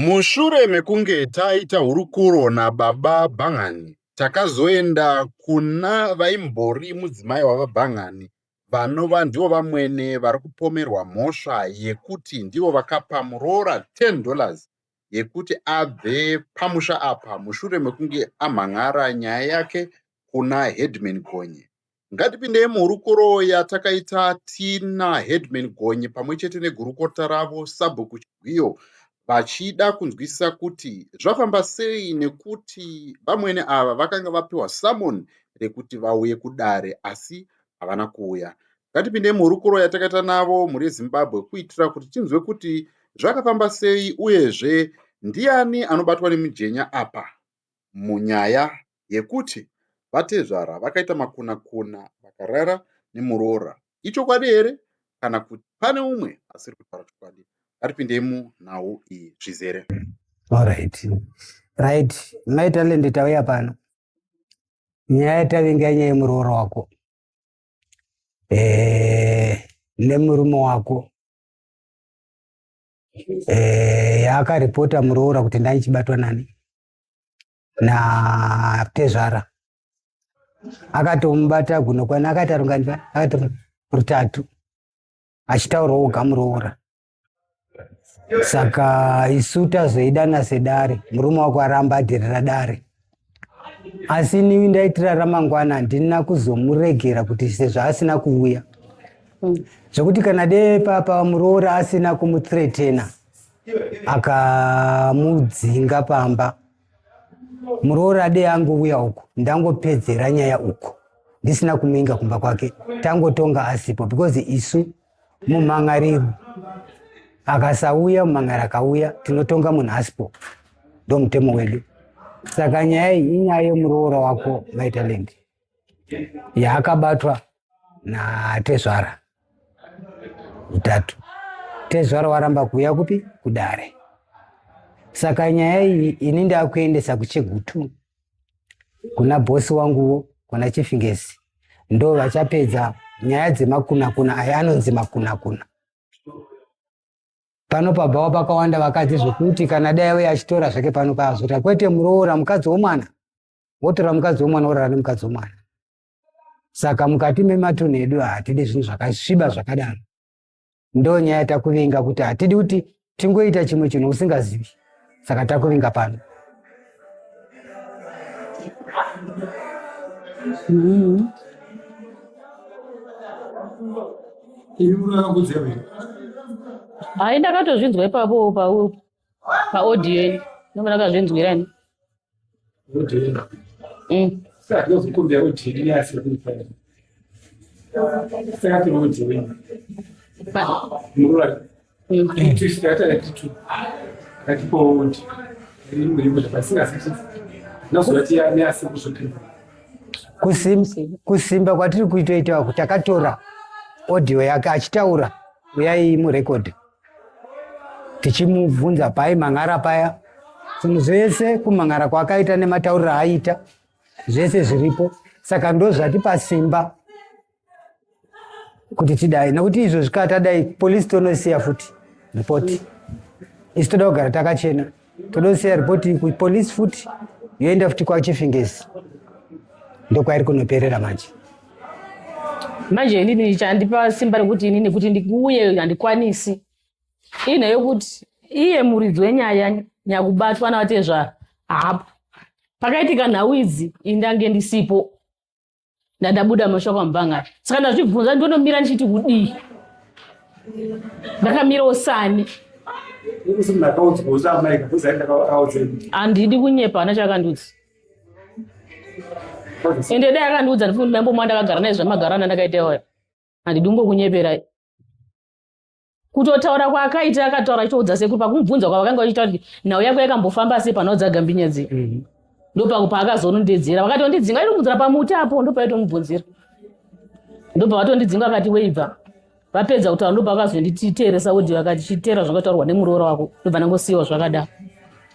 Mushure mekunge taita hurukuro nababa Bhan'ani, takazoenda kuna vaimbori mudzimai wababa Bhan'ani vanova ndivo vamwene vari kupomerwa mhosva yekuti ndivo vakapa muroora ten dollars yekuti abve pamusha apa mushure mekunge amhan'ara nyaya yake kuna Headman Gonye. Ngatipindei muhurukuro yatakaita tina Headman Gonye pamwe chete negurukota ravo Sabhuku Chigwiyo vachida kunzwisisa kuti zvafamba sei nekuti vamwene ava vakanga vapiwa summon rekuti vauye kudare asi havana kuuya. Ngatipindei muhurukuro yatakaita navo mhuri yeZimbabwe kuitira kuti tinzwe kuti zvakafamba sei uyezve ndiani anobatwa nemujenya apa. munyaya yekuti vatezvara vakaita makuna kuna vakarara nemuroora ichokwadi here kana kuti pane umwe asiri kutaura chokwadi ngatipindei munhau iyi zvizere alright right mai talende tauya pano nyaya yatavinga nyaya yemuroora wako eh, nemurume wako eh, yaakaripota muroora kuti ndaichibatwa nani natezvara akatomubata gunokwana akaita rungani akaita rutatu achitaura oga muroora saka isu tazoidana sedare murume wako aramba adherera dare asi inini ndaitira ramangwana handina kuzomuregera kuti sezvo asina kuuya mm. zvekuti kana dee papa muroora asina kumutretena akamudzinga pamba muroora dee angouya uku ndangopedzera nyaya uku ndisina kumuinga kumba kwake tangotonga asipo because isu mumhan'ariro akasauya mumhan'ari akauya tinotonga munhu asipo ndo mutemo wedu saka nyaya iyi inyaya yemuroora wako vitalent yaakabatwa natezvara utatu tezvara waramba kuuya kupi kudare saka nyaya iyi ini ndakuendesa kuchegutu kuna bosi wanguwo kuna chifingesi ndo vachapedza nyaya dzemakunakuna aya anonzi makunakuna pano pabhawa pakawanda vakadzi zvekuti kana dai auya achitora zvake pano paazota kwete muroora mukadzi womwana wotora mukadzi womwana worara nemukadzi womwana saka mukati mematunhu edu hatidi zvinhu zvakasviba zvakadaro ndonyaya takuvinga kuti hatidi kuti tingoita chimwe chinhu usingazivi saka takuvinga pano mm-hmm. ini unokudzeva hayi ndakatozvinzwa ipapo paupo paaudio ini ndomana kazvinzwira ini mm. kusimba kwatiri kuitoitawa kuti akatora audio yake achitaura uyai murekodhi tichimubvunza pai mang'ara paya zvinhu zvese kumang'ara kwaakaita nematauriro aaita zvese zviripo saka ndozvati pasimba kuti tidai nekuti izvo zvikatadai polisi tonosiya futi ripoti isi toda kugara takachena Todosiya ripoti kupolice futi yoenda futi kwachifingesi ndokwairi kunoperera manje manje inini chandipa simba rekuti inini kuti ndikuuye handikwanisi ine yokuti iye muridzi wenyaya nyakubatwa navatezvara hapo pakaitika nhau idzi indange ndisipo ndandabuda mashoko amubanga saka ndazvibvunza ndonomira ndichiti kudii ndakamira usani handidi kunyepa hana chaakandiudza ende dai akandiudza ndifumbi maimbo mwandakagara naye zvamagarana ndakaita iwayo handidi kungokunyeperai kutotaura kwaakaita akataura achitoudza sekuru pakumubvunza kwavakanga vachitaura kuti nhau yako yakambofamba sei panoudza gambinya dzei mhm. ndopako paakazonondedzera vakati wandidzinga itomudzira pamuti apo ndopaitomubvunzira ndobva vatondidzinga vakati weibva vapedza kutaura ndobva vakazondititeeresa wodhi vakati chiteera zvakataurwa nemuroora wako ndobva ndangosiyiwa zvakadaro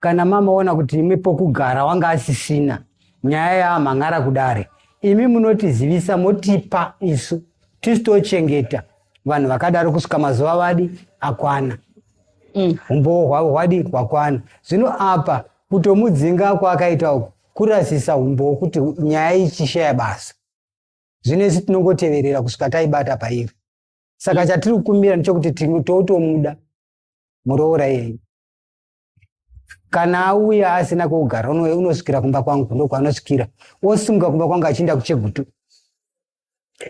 kana mamaona kuti imwe pokugara wanga asisina nyaya yaamhan'ara kudare imi munotizivisa motipa isu tisu tochengeta vanhu vakadaro kusvika mazuva vadi akwana mm. umbowo hwavo hwadi hwakwana zvino apa kutomudzinga kwaakaita uku kurasisa umbowo kuti nyaya ichishaya basa zvino isu tinongoteverera kusvika taibata pairi saka mm. chatiri kukumbira ndechokuti tinototomuda muroora iyeye kana auya asina kwekugara unosvikira kumba kwangu ndo kwaanosvikira osimuka kumba kwangu achienda kuchegutu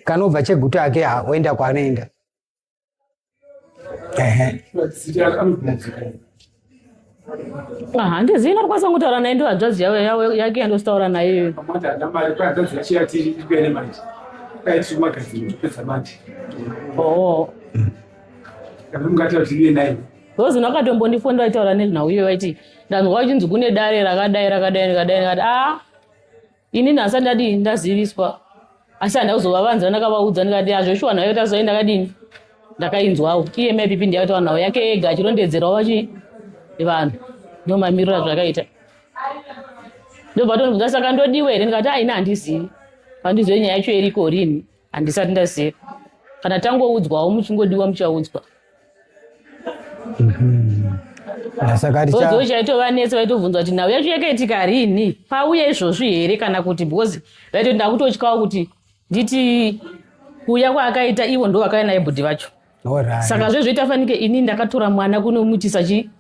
kana obva chegutu ake oenda kwaanoenda handizivi ndakwanisa kutaura naye ndo hadzvadzi yake yandositaura naye Because vakatombondifonda vaitaura nezvinhau iyoyo vaiti ndanzwa vachinzi kune dare rakadai rakadai ndikadai ndikati a inini hasati ndadii ndaziviswa asi handa kuzovavanza ndakavaudza ndikati hazveshuwa nhayo tazoi ndakadini ndakainzwawo iye maipipi ndiyakataura nhau yake yega achirondedzerawo vachi vanhu nomamiriro azvakaita ndobva tonibvunza saka ndodiwa here ndikati aina handizivi handizive nyaya yacho iriko rini handisati ndaziva kana tangoudzwawo muchingodiwa muchaudzwa mhm. ah, sakaioo chaitova netse vaitobvunza kuti nhau yacho yakaitika rini pauya izvozvi here kana kuti because vaitoti ndakutotyawo kuti nditi kuuya kwaakaita ivo ndo vakauya naye bhudhi vacho saka zvezvoita fanike ini ndakatora mwana kunomuitisa chii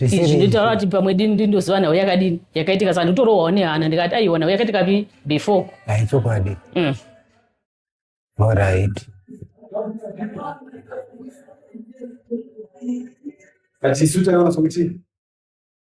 izvi ndotaura kuti pamwe dini ndi ndoziva nhau yakadini yakaitika sa ndotorohwawo nehana ndikati aiwa nhau yakaitika pi before ai chokwadi mm. orit but isu taiona sokuti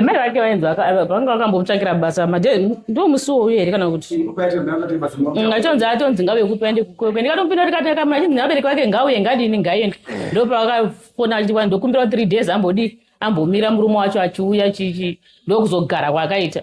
mai vake vainzi vanga vakambomutsvakira basa made ndo musi wowo here kana kuti atonzi atonzi ngavekupi aende kukwekwe ndikatomupinda kuti kati akamuna chinzi nevabereki vake ngauye ngadini ngaiende ndo pavakafona achiti kwani ndokumbirawo three days ambodii ambomira murume wacho achiuya chichi ndokuzogara kwaakaita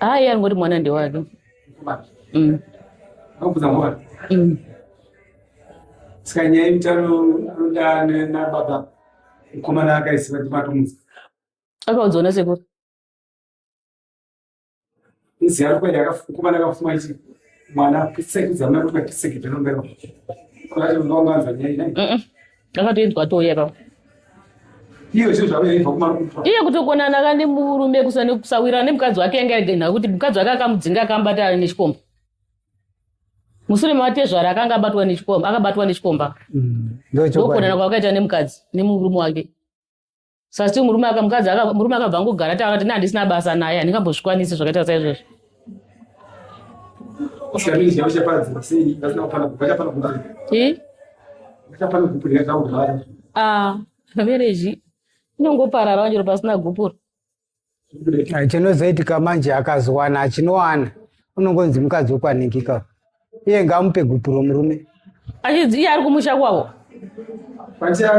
Haa iye angoti mwana ndewake. Mm. Mm. Saka nyaya yekuti anoda nababa mukomana akaisiva kuti matomudza. Akaudzwa nasekuru. iziyaro kwenda akafukuvana akafuma ichi mwana pisekidza mna kuti matisekidza nombera kwati ndonganza nyai nai akatoinzwa touya pa iyo zvinhu zvavo yaibva kumarukupa iye kutokonana ka nemurume kusawirana nemukadzi wake yanga yagenha kuti mukadzi wake akamudzinga akambata ari nechikomba mushure mevatezvara akanga abatwa nechikomba akabatwa nechikomba mm. ndokonana kwakaita nemukadzi nemurume wake sasi murume aka mukadzi aka murume akabva ngogara taura kuti nandisina basa naye handingambozvikwanisi zvakaita saizvozvo ah, vereji inongoparara vanjero pasina gupuro Eh, chinozoitika manje akazowana achinowana unongonzi mukadzi wekwanhikika iye ngaamupe gupuro murume achidzi iye ari kumusha kwavo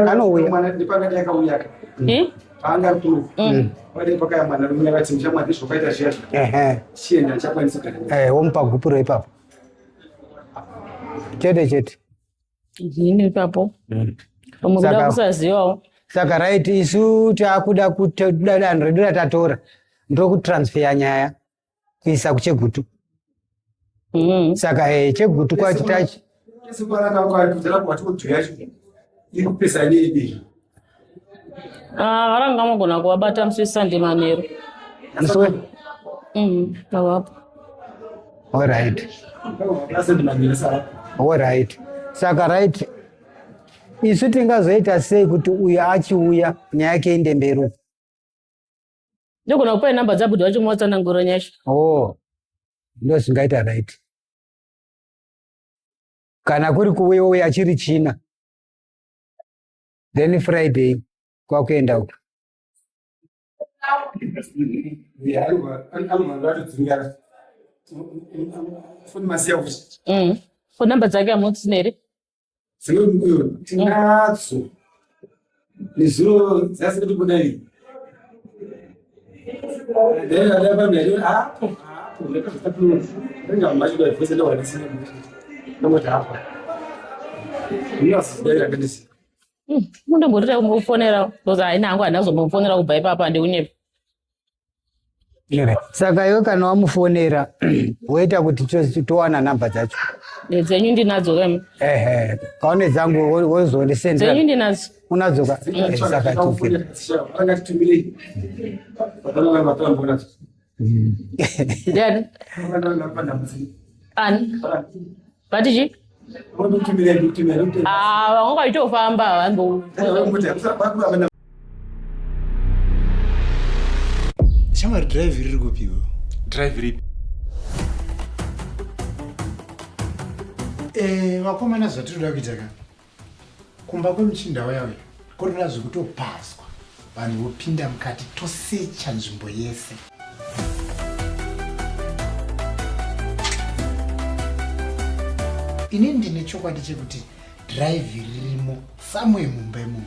anouya eh? paanga ari kuno mm. pade pakaya mwana rume vati muchamwadi zvokaita zviya chienda achakwanisa eh, womupa gupuro ipapo chete chete ini ipapo mm. pamwe kuda kusazivawo saka right isu takuda kuda danho redu ratatora ndokutransfeya nyaya kuisa kuchegutu mm. saka e, chegutu kwacho tachi Ah, varanga vanogona kuvabata musi wesunday manheru Musi we- Mhm, avapo all right all right saka right isu tingazoita sei kuti uyu achiuya nyaya yake inde mberi uku? ndogona kupai namba dzabuda vacho muwatsanangura nyasha oh ndo zvingaita right kana kuri kuuya uya achiri china then friday kwakuenda uko mm. phone number dzake amotinere tinadzo nezuro dzasiri kubuda iri mundombotoita kumbofonera bcause haina hangu handina kuzombofonera kubva ipapa handikunyepa saka iwe kana wamufonera woita kuti towana nhamba dzacho dzenyu ndinadzo kama ehe kaone dzangu wozondisendzenyu ndinadzo unadzoka sakatokera ndiani ani vati chii Ah, vanga vaitofamba vangu shamwari drive riri kupiwo drive ripi eh, vakomana zvatiri kuda kuita ka kumba kwemuchinda waya uya korora zvekutopazwa vanhu vopinda mukati tosecha nzvimbo yese ini ndine chokwadi chekuti dhiraivhi ririmo samwe mumba imomo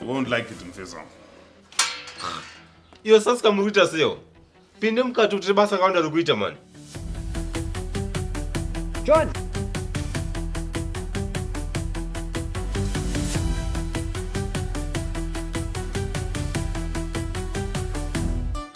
You won't like it, Mfesa. Iyo sasika muri kuita seyo. Pinde mukati utire basa rakawanda riri kuita mani. John.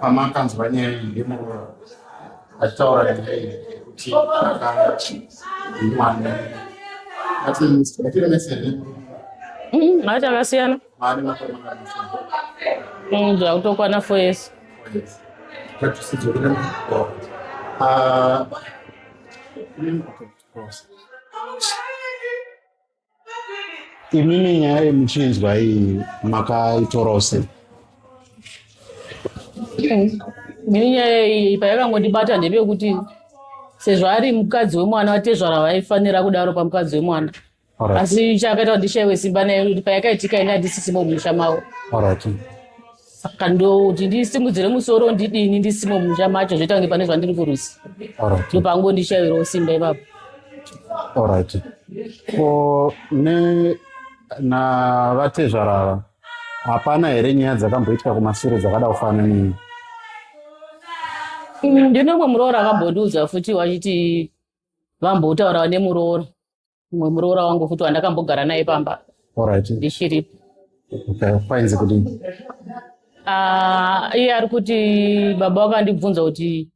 pamakanzwa nyaya iyi yemuroora achitaura nyaya iyi kuti akanga mwana mati akasiyana zvakutokwana fo yesu imimi nyaya yemuchinzwa iyi makaitorawo sei ini nyaya iyi payakangondibata ndepekuti sezvo ari mukadzi wemwana vatezvara vaifanira kudaro pamukadzi wemwana asi chakaita kuti ndishaiwe simba naye kuti payakaitika ini handisisimo mumusha mavo saka ndoti ndisimudzire musoro ndidini ndisimo mumusha macho zvoita kunge pane zvandiri kurusi ndopango ndishayirawo simba ipapo orit ko ne na vatezvara ava hapana here nyaya dzakamboitika kumasure dzakada kufana nini mm, ndinomwe muroora akambondiudza futi wachiti vambotaurawa nemuroora mumwe muroora wangu futi wandakambogara naye pamba ndichiri painzi kuti ah, iye ari kuti baba vakandibvunza kuti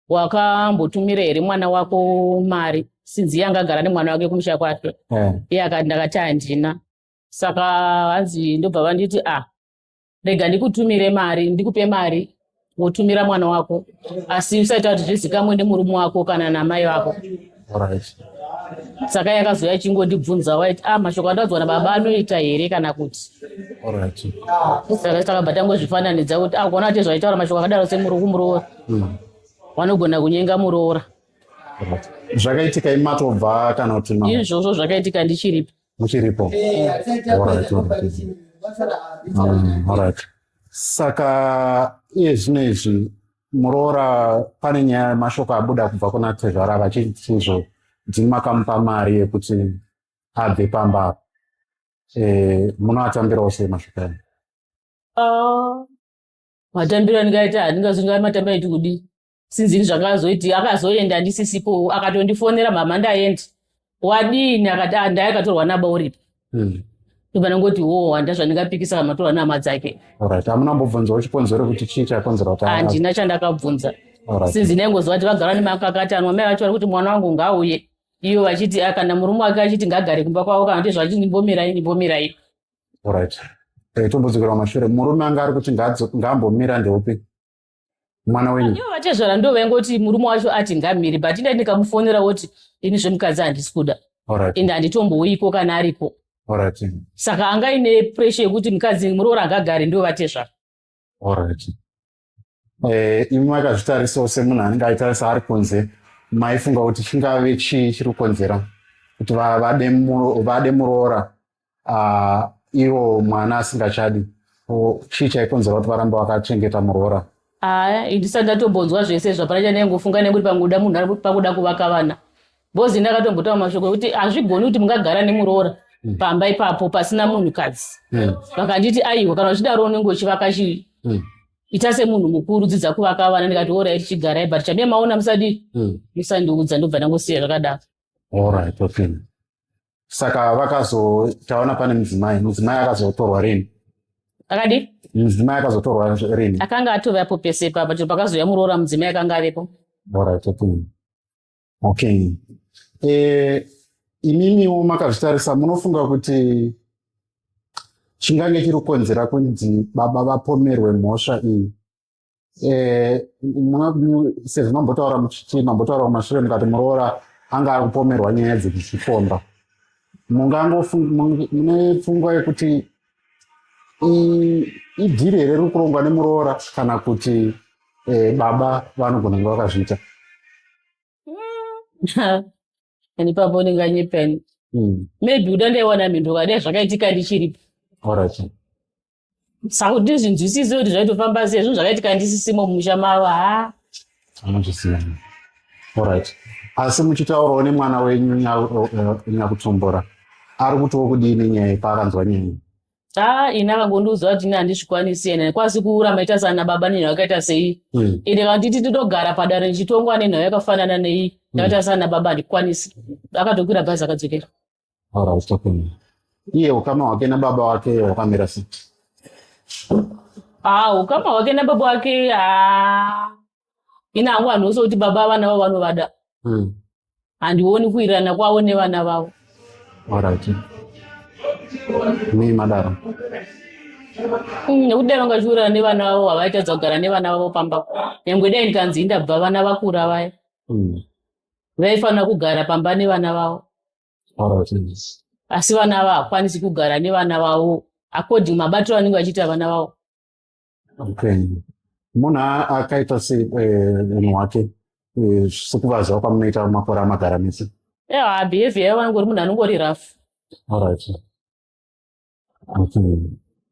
wakambotumira here mwana wako mari sinzi iye angagara nemwana wake kumusha kwake eh. iye ndakati handina saka hanzi ndobva vanditi a ah, rega ndikutumire mari ndikupe mari wotumira mwana wako asi usaita kuti zvizikamwe nemurume wako kana namai vako saka yakazouya chingondibvunza waiti a ah, mashoko andadzwa nababa anoita here kana kuti saka takabva tangozvifananidza kuti a ah, kuona kuti zvaitaura mashoko akadaro semurokumuroora hmm. vanogona kunyenga muroora zvakaitika imatobva kana kuti izvozvo zvakaitika ndichiripi muchiripo alright saka iye zvino izvi muroora pane nyaya mashoko abuda kubva kuna tezvara vachitizvo dzini makamupa mari yekuti abve pamba apa eh, munoatambirawo sei mashoko aya ah, matambiro andingaita handingazonga matambiro aiti kudii sinzini zvakazoiti akazoenda andisisipo akatondifonera mama ndaendi wadini akati ah, ndaya akatorwa naba uripi hmm. ivanangoti wo oh, handa zvandingapikisa kamatorwa nama dzake amuna mbobvunza uchikonzero kuti chii chakonzera kuti handina chandakabvunza sinzi ndaingoziva kuti vagara nemakakatanwa mai vacho vari kuti mwana wangu ngauye iyo vachiti ah, kana murume wake achiti ngagare kumba kwavo kana kuti zvachiti ndimbomirai ndimbomirai right eh, tombodzokera kumashure murume anga ari kuti ngaambomira ndeupi mwana wenyu ivo vatezvara ndo vaingoti murume wacho ati ngamiri but inda ndikamufonera woti ini zvemukadzi handisi kuda ende handitombouyiko kana ariko saka anga ine presha yekuti mukadzi muroora angagari ndo vatezvara eh, imi makazvitarisawo semunhu anenge aitarisa ari kunze maifunga kuti chingave chii chiri kukonzera kuti vade muroora uh, iwo mwana asingachadi chii chaikonzera kuti varambe vakachengeta muroora haa ndisati ndatombonzwa zvese izvo hapana chandaingofunga nekuti pangoda munhu pakuda kuvaka vana bcoz ndakatombotaura mashoko ekuti hazvigoni kuti mungagara nemuroora hmm. pamba ipapo pasina munhukadzi hmm. vakanditi aiwa kana uchidaro unenge uchivaka chii hmm. ita semunhu mukuru dzidza kuvaka vana ndikati orai tichigarai but chamie maona musadi musandiudza ndobva ndangosiya zvakadaro saka vakazotaona pane mudzimai mudzimai akazotorwa rini akadii mudzimai akazotorwa rini akanga atove apo pese ipapa chero pakazouya muroora mudzimai akanga avepo orit okay e, imimiwo makazvitarisa munofunga kuti chingange chiri kukonzera kunzi baba vapomerwe mhosva iyi Eh, sezvo mambotaura muchiti mambotaura kumashure mukati muroora anga ari kupomerwa nyaya dzekuzvikomba mungangomune pfungwa yekuti idhiri here riri kurongwa nemuroora kana kuti eh, baba vanogona kunge vakazviita and ipapo unenge anyepeni hmm. maybe kuda ndaiwana mhinduro kade zvakaitika ndichiripo saka kuti ndizvinzwisise kuti zvaitofamba sei zvinhu zvakaitika ndisisimo mumusha mavo ha anozvisiya orit asi muchitaurawo nemwana wenyu nyakutombora eh, eh, ari kutiwo kudii nenyaya yepaakanzwa nyaya ha ini akangondiudzwa kuti ini handizvikwanisi ena kwasi kuura maita sana baba nenhau yakaita sei hmm. ende kana titi titogara padare ndichitongwa nenhau yakafanana nei hmm. ndakaita sana baba handikwanisi akatokwira bhazi akadzokera All right, okay. Iye ukama hwake nababa wake hwakamira sei? Ah, ukama hwake nababa wake ah. Ina hangu vanhu vose kuti baba vana vavo vanovada. Mm. Handioni kuirana kwavo nevana vavo. All right. Nei madaro? Mm, nekuti dai vanga vachiurana nevana vavo havaitadza kugara nevana vavo pamba. Nyangwe dai ndikanzi indabva vana vakura vaya. Mm. vaifanira kugara pamba nevana vavo asi vana ava hakwanisi kugara nevana vavo according mabatiro anenge vachiita vana vavo munhu akaita semunhu eh, wake eh, sekuvaziva kwamunoita makore amagara mese ewa behavior yavo vanongori munhu anongori rafu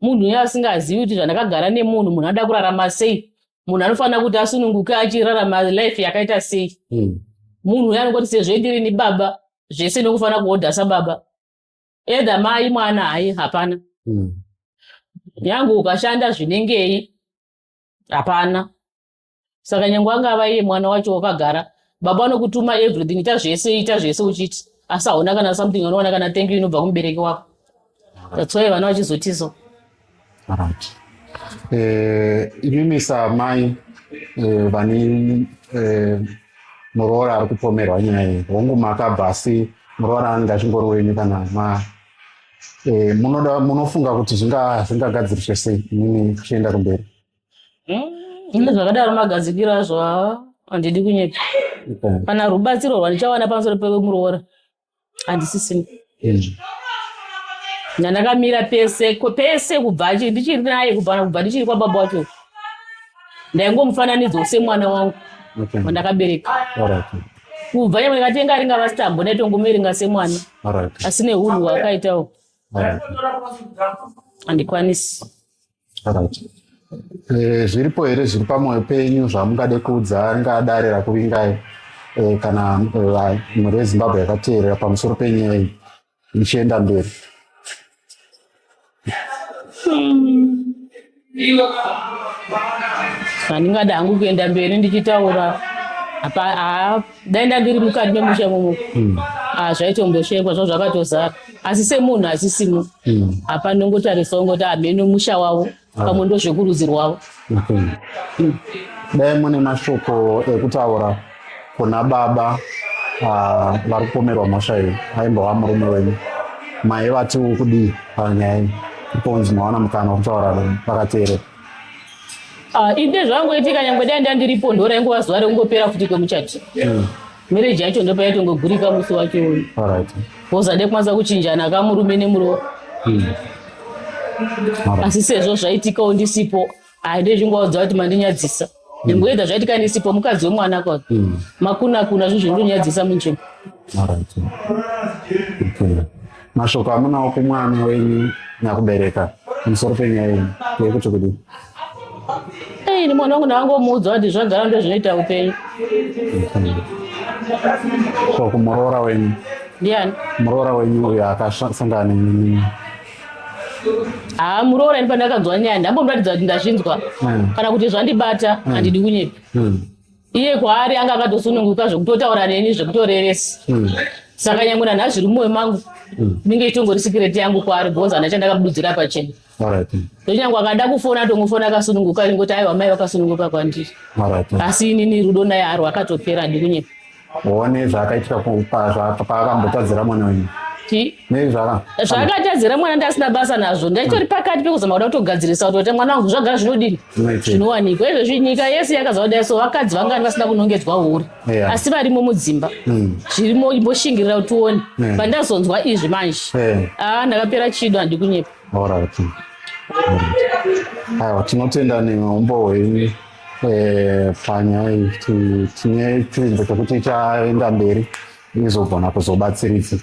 munhu uye asingazivi kuti zvandakagara nemunhu munhu anoda kurarama sei munhu anofanira kuti asununguke achirarama life yakaita sei hmm. munhu uye anongoti sezvo ndiri ni baba zvese nekufanira kuhodha sababa edha mai mwana hayi hapana hmm. nyange ukashanda zvinengei hapana saka nyange angava iye mwana wacho wakagara baba vanokutuma everything ita zvese ita zvese uchiti asi hauna kana something unoona kana thank you inobva kumubereki wako that's why vana vachizotizo right eh imimi samai eh, vani eh, muroora ari kupomerwa nyaya iyi hongu makabva asi muroora anga chingori wenyu kana ma eh, munoda munofunga kuti zvingagadziriswe sei imimi kuchienda kumberi Ine zvakadaro magadzikiro azvo haa handidi kunyepa kana rubatsiro rwandichawana pamusoro pemuroora handisisina ndandakamira pese ko- pese kubva achi- ndichiri naye kubva kubva ndichiri kwababa wacho ndaingomufananidzo semwana wangu Okay. wandakabereka Alright. kubva nyangwe ndikatenga ringava sitambo ndaitongomiringa semwana Alright. asi nehunhu hwakaitawo Alright. handikwanisi Eh, zviripo here zviri pamwoyo penyu zvamungade kuudza angadare rakuvingai eh, kana eh, mhuri yezimbabwe yakateerera pamusoro penyaya iyi ichienda mberi handingade hangu kuenda mberi ndichitaura dai ndandiri mukati memusha imomo hmm. ah, zvaitomboshekwa zvo zvakatozara asi semunhu asisimo hmm. hapa ndongotarisawo ngoti hameno ah, musha wavo ah. pamwe ndozvekurudzi rwavo hmm. dai mune mashoko ekutaura kuna baba vari kupomerwa mhosva iyo aimbova murume wenyu maiva tiwo kudii panyaya iyi iponzi maona mukana wekutaura vakateerera Ah, ini ndezvangoitika nyangwe dai ndandiripo ndora ingova zuva rekungopera futi kwemuchati hmm. mereji yacho ndopa yaitongogurika musi wacho uyu wozade kwanisa kuchinjana kamurume nemurowa hmm. asi sezvo zvaitikawo ndisipo handezvingovaudza kuti mandinyadzisa ndimboedza zvaitika ndisipo mukadzi wemwana kwa mm. makuna kuna zvinhu zvinondonyadzisa munzvimbo mashoko amunawo kumwana wenyu nyakubereka pamusoro penyaya yenyu yekuti kudii ini mwana wangu ndakangomuudza kuti zvagara ndo zvinoita upenyu so kumuroora wenyu ndiani muroora wenyu uyo akasangana haa muroora ini pandakanzwa nyaya ndambomratidza kuti ndazvinzwa hmm. kana kuti zvandibata hmm. handidi kunyepa hmm. iye kwaari anga akatosununguka zvekutotaura neni zvekutorevesa saka nyangwe nanha zviri mumoyo mangu inenge itongori sikireti yangu kwaari bhoza hana chandakabudzira pachena ndochanyangwe akada kufona atongofona akasununguka ingoti aiwa mai vakasununguka kwandiri asi inini rudo naye aro akatopera ndikunyepa one zvaakaitika paakambotadzira mwana wenyu zvakatadzira mwana ndasina basa nazvo ndaitori pakati pekuzama kuda kutogadzirisa kuti ote mwana wangu zvagara zvinodini zvinowanikwa izvezvi nyika yese yakaziva kudai so vakadzi vangani vasina kunongedzwa huri asi varimo mudzimba hmm. zvirimo imboshingirira kuti uone pandazonzwa izvi manje aa ah, ndakapera chido handikunyepa aiwa tinotenda neumbo hwenyu eh, panyaya iyi tine chinzvimbo chekuti chaenda mberi izogona kuzobatsiridza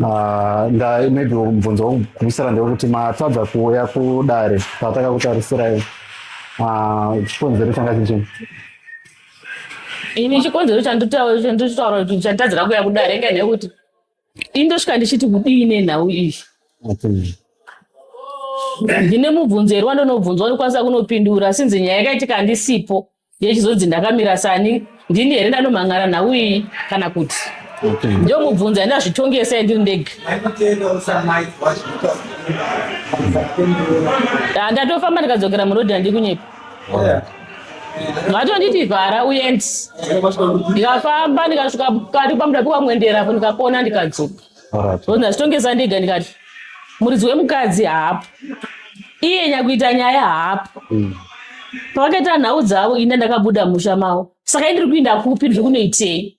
ah, maybe mubvunzo wokugumisira ndewekuti matadza kuuya kudare pataka kutarisirayo ah, chikonzero changa chichii ini chikonzero chanditaura kuti chatadzira kuya kudare ngenekuti indosvika ndichiti kudii nenhau iyi ndine mubvunzo here wandonobvunzwa ndikwanisa kunopindura sinzi nyaya yakaitika handisipo yechizonzi ndakamira sani ndini here ndanomhang'ara nhau iyi kana kuti ndio mubvunzo yandazvitongesa yandiri ndege ndatofamba ndikadzokera murodhi handiri kunyepa vatondidivhara uyendi ndikafamba ndikasvika kati kwamuda pikwamwendera apo ndikapona ndikadzoka ona zvitongesa ndega ndikati muridzi wemukadzi haapo iye nyakuita nyaya haapo mm. pavakaita nhau dzavo ine ndakabuda musha mavo saka indiri kuinda kupi ndiri kunoitei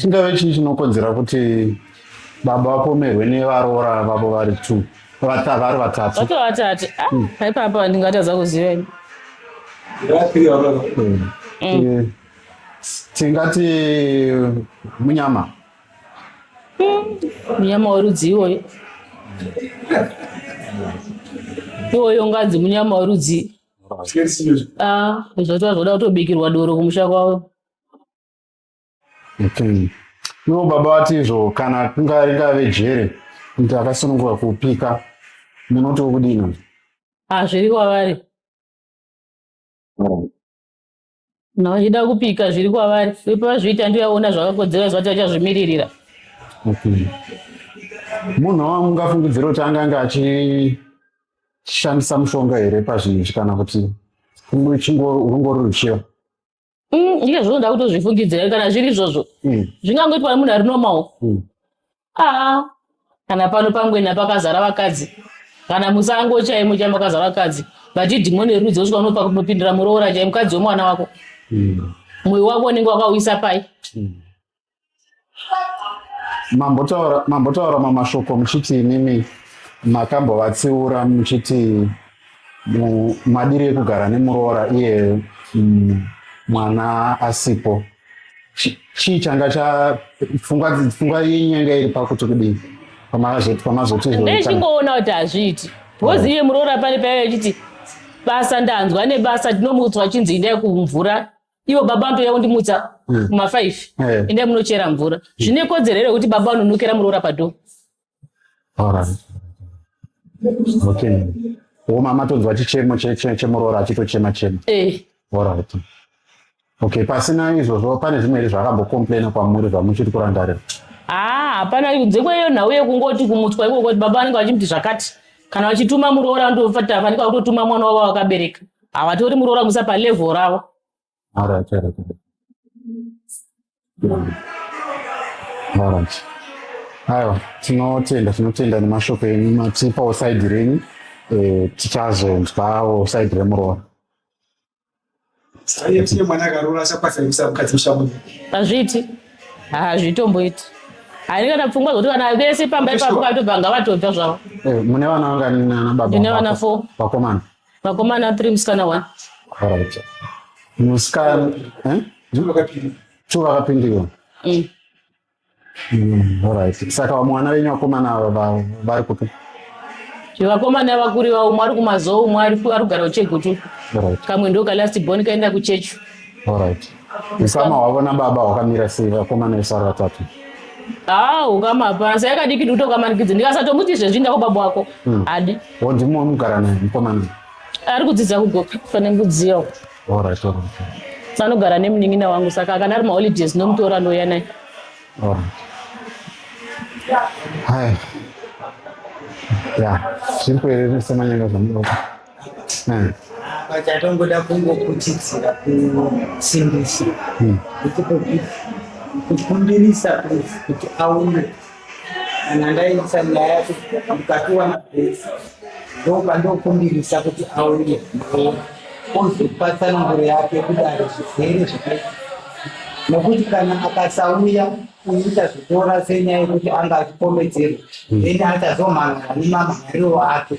Chingave chii chinokonzera kuti baba vapomerwe nevaroora vavo vari two vata- vari vatatu? Vake vatatu. Ah, Mm. haipapa ndingatadza kuziva ini. Eh, Tingati munyama. Munyama werudzi iwoyo. Iwoyo unganzi munyama werudzi. Ah, zvatova zvoda kutobikirwa doro kumusha kwavo. Okay. Ivo baba vati izvo kana kunga ringave jere kuti akasununguka kupika munotiwo kudini? Hazviri kwavari. Kana vachida kupika zviri kwavari. Ipo vazviita ndiye aona zvakakodzera zvati achazvimiririra. Okay. Munhu wamungafungidzira kuti angange achishandisa mushonga here pazvinhu izvi kana kuti kungo- chingo- rungori ruchiva? Mm, ike zvinoda kutozvifungidzira kana zviri izvozvo Mm. zvingangoitwa nemunhu ari normal Mm. aa kana pano pangwena pakazara vakadzi kana musango chaimo chaimo pakazara vakadzi vati dhimoni rerudzi osvika unopa kunopindira muroora chaimo mukadzi wemwana wako Mm. mwoyo wako unenge wakauyisa pai mambotaura mambotaura mamashoko muchiti imimi makambovatsiura muchiti madiri ekugara nemuroora iye mm, mwana asipo chii changa chapfungwa yenyu yanga iri pakuti kudii pamazotizvichingoona kuti hazviiti bhozi iye muroora pane paive achiti basa ndanzwa nebasa ndinomuudzwa chinzi indai kumvura ivo baba vanotouya kundimutsa mm. mafive yeah. endai munochera mvura mm. zvine kodzero here kuti baba vanonokera muroora padho okay woma matonzwa chichemo chemuroora achitochema chema eh. orit okay pasina izvozvo pane zvimwe here zvakambocomplaina kwamuri zvamuchiri kurangarira haa ah, hapana kunze kweiyo nhau yekungoti kumutswa ikoko kuti baba vanenge vachimuti zvakati kana vachituma muroora ndofanika kutotuma mwana wavo wakabereka havatori muroora kuisa palevel ravo Alright, alright, alright. Alright. Aiwa, tinotenda tinotenda nemashoko enyu matipawo side renyu eh, tichazonzwawo side remuroora. Saiye mwana akaroora achakwanisa kuisa mukadzi mushamu. hazviiti hazvitomboiti haini kana pfungwa dzokuti vana vese pamba ipapo vatobva ngavatobva zvavo Eh, mune vana vangani nana baba Ndine vako? vana four. Vakomana. Vakomana three musikana one. Alright. Musikana eh? Two vakapindiwa. Mm. Mm, alright. Saka mwana wenyu vakomana ava vari kupi? Vakomana vakuri vavo umwe ari kumazowo umwe ari kugara kuchegutu. Alright. Kamwe ndoka last born kaenda kuchechu. Alright. Usama hwavo nababa hwakamira sei vakomana vese vari vatatu? Ah, ukama hapana. Saka yakadiki kuti ukamanikidze. Ndikasatomuti izvezvi inda kubaba wako. Hmm. Hadi. Wo ndimo wamugara naye mukomana. Ari kudzidza kugoka pane mbudziyo. All right, all right. Anogara nemunin'ina wangu saka kana ari maholidays nomutora ndoya naye. All right. Hai. Ya, zviri kuereresa manyanga zvamunoda. Hmm. But I don't go that Congo kuchidzira kusimbisa. Hmm. Kukumbirisa kuti aune kana ndaisa nyaya ndikatowana pesa ndoba ndokumbirisa kuti auye ozopa tsananguro yake kudari zvizere zvakaita nokuti kana akasauya kuita zvitora senyaya yekuti anga achikomedzerwa hmm. then atazomhan'ara nemamhan'ariro ake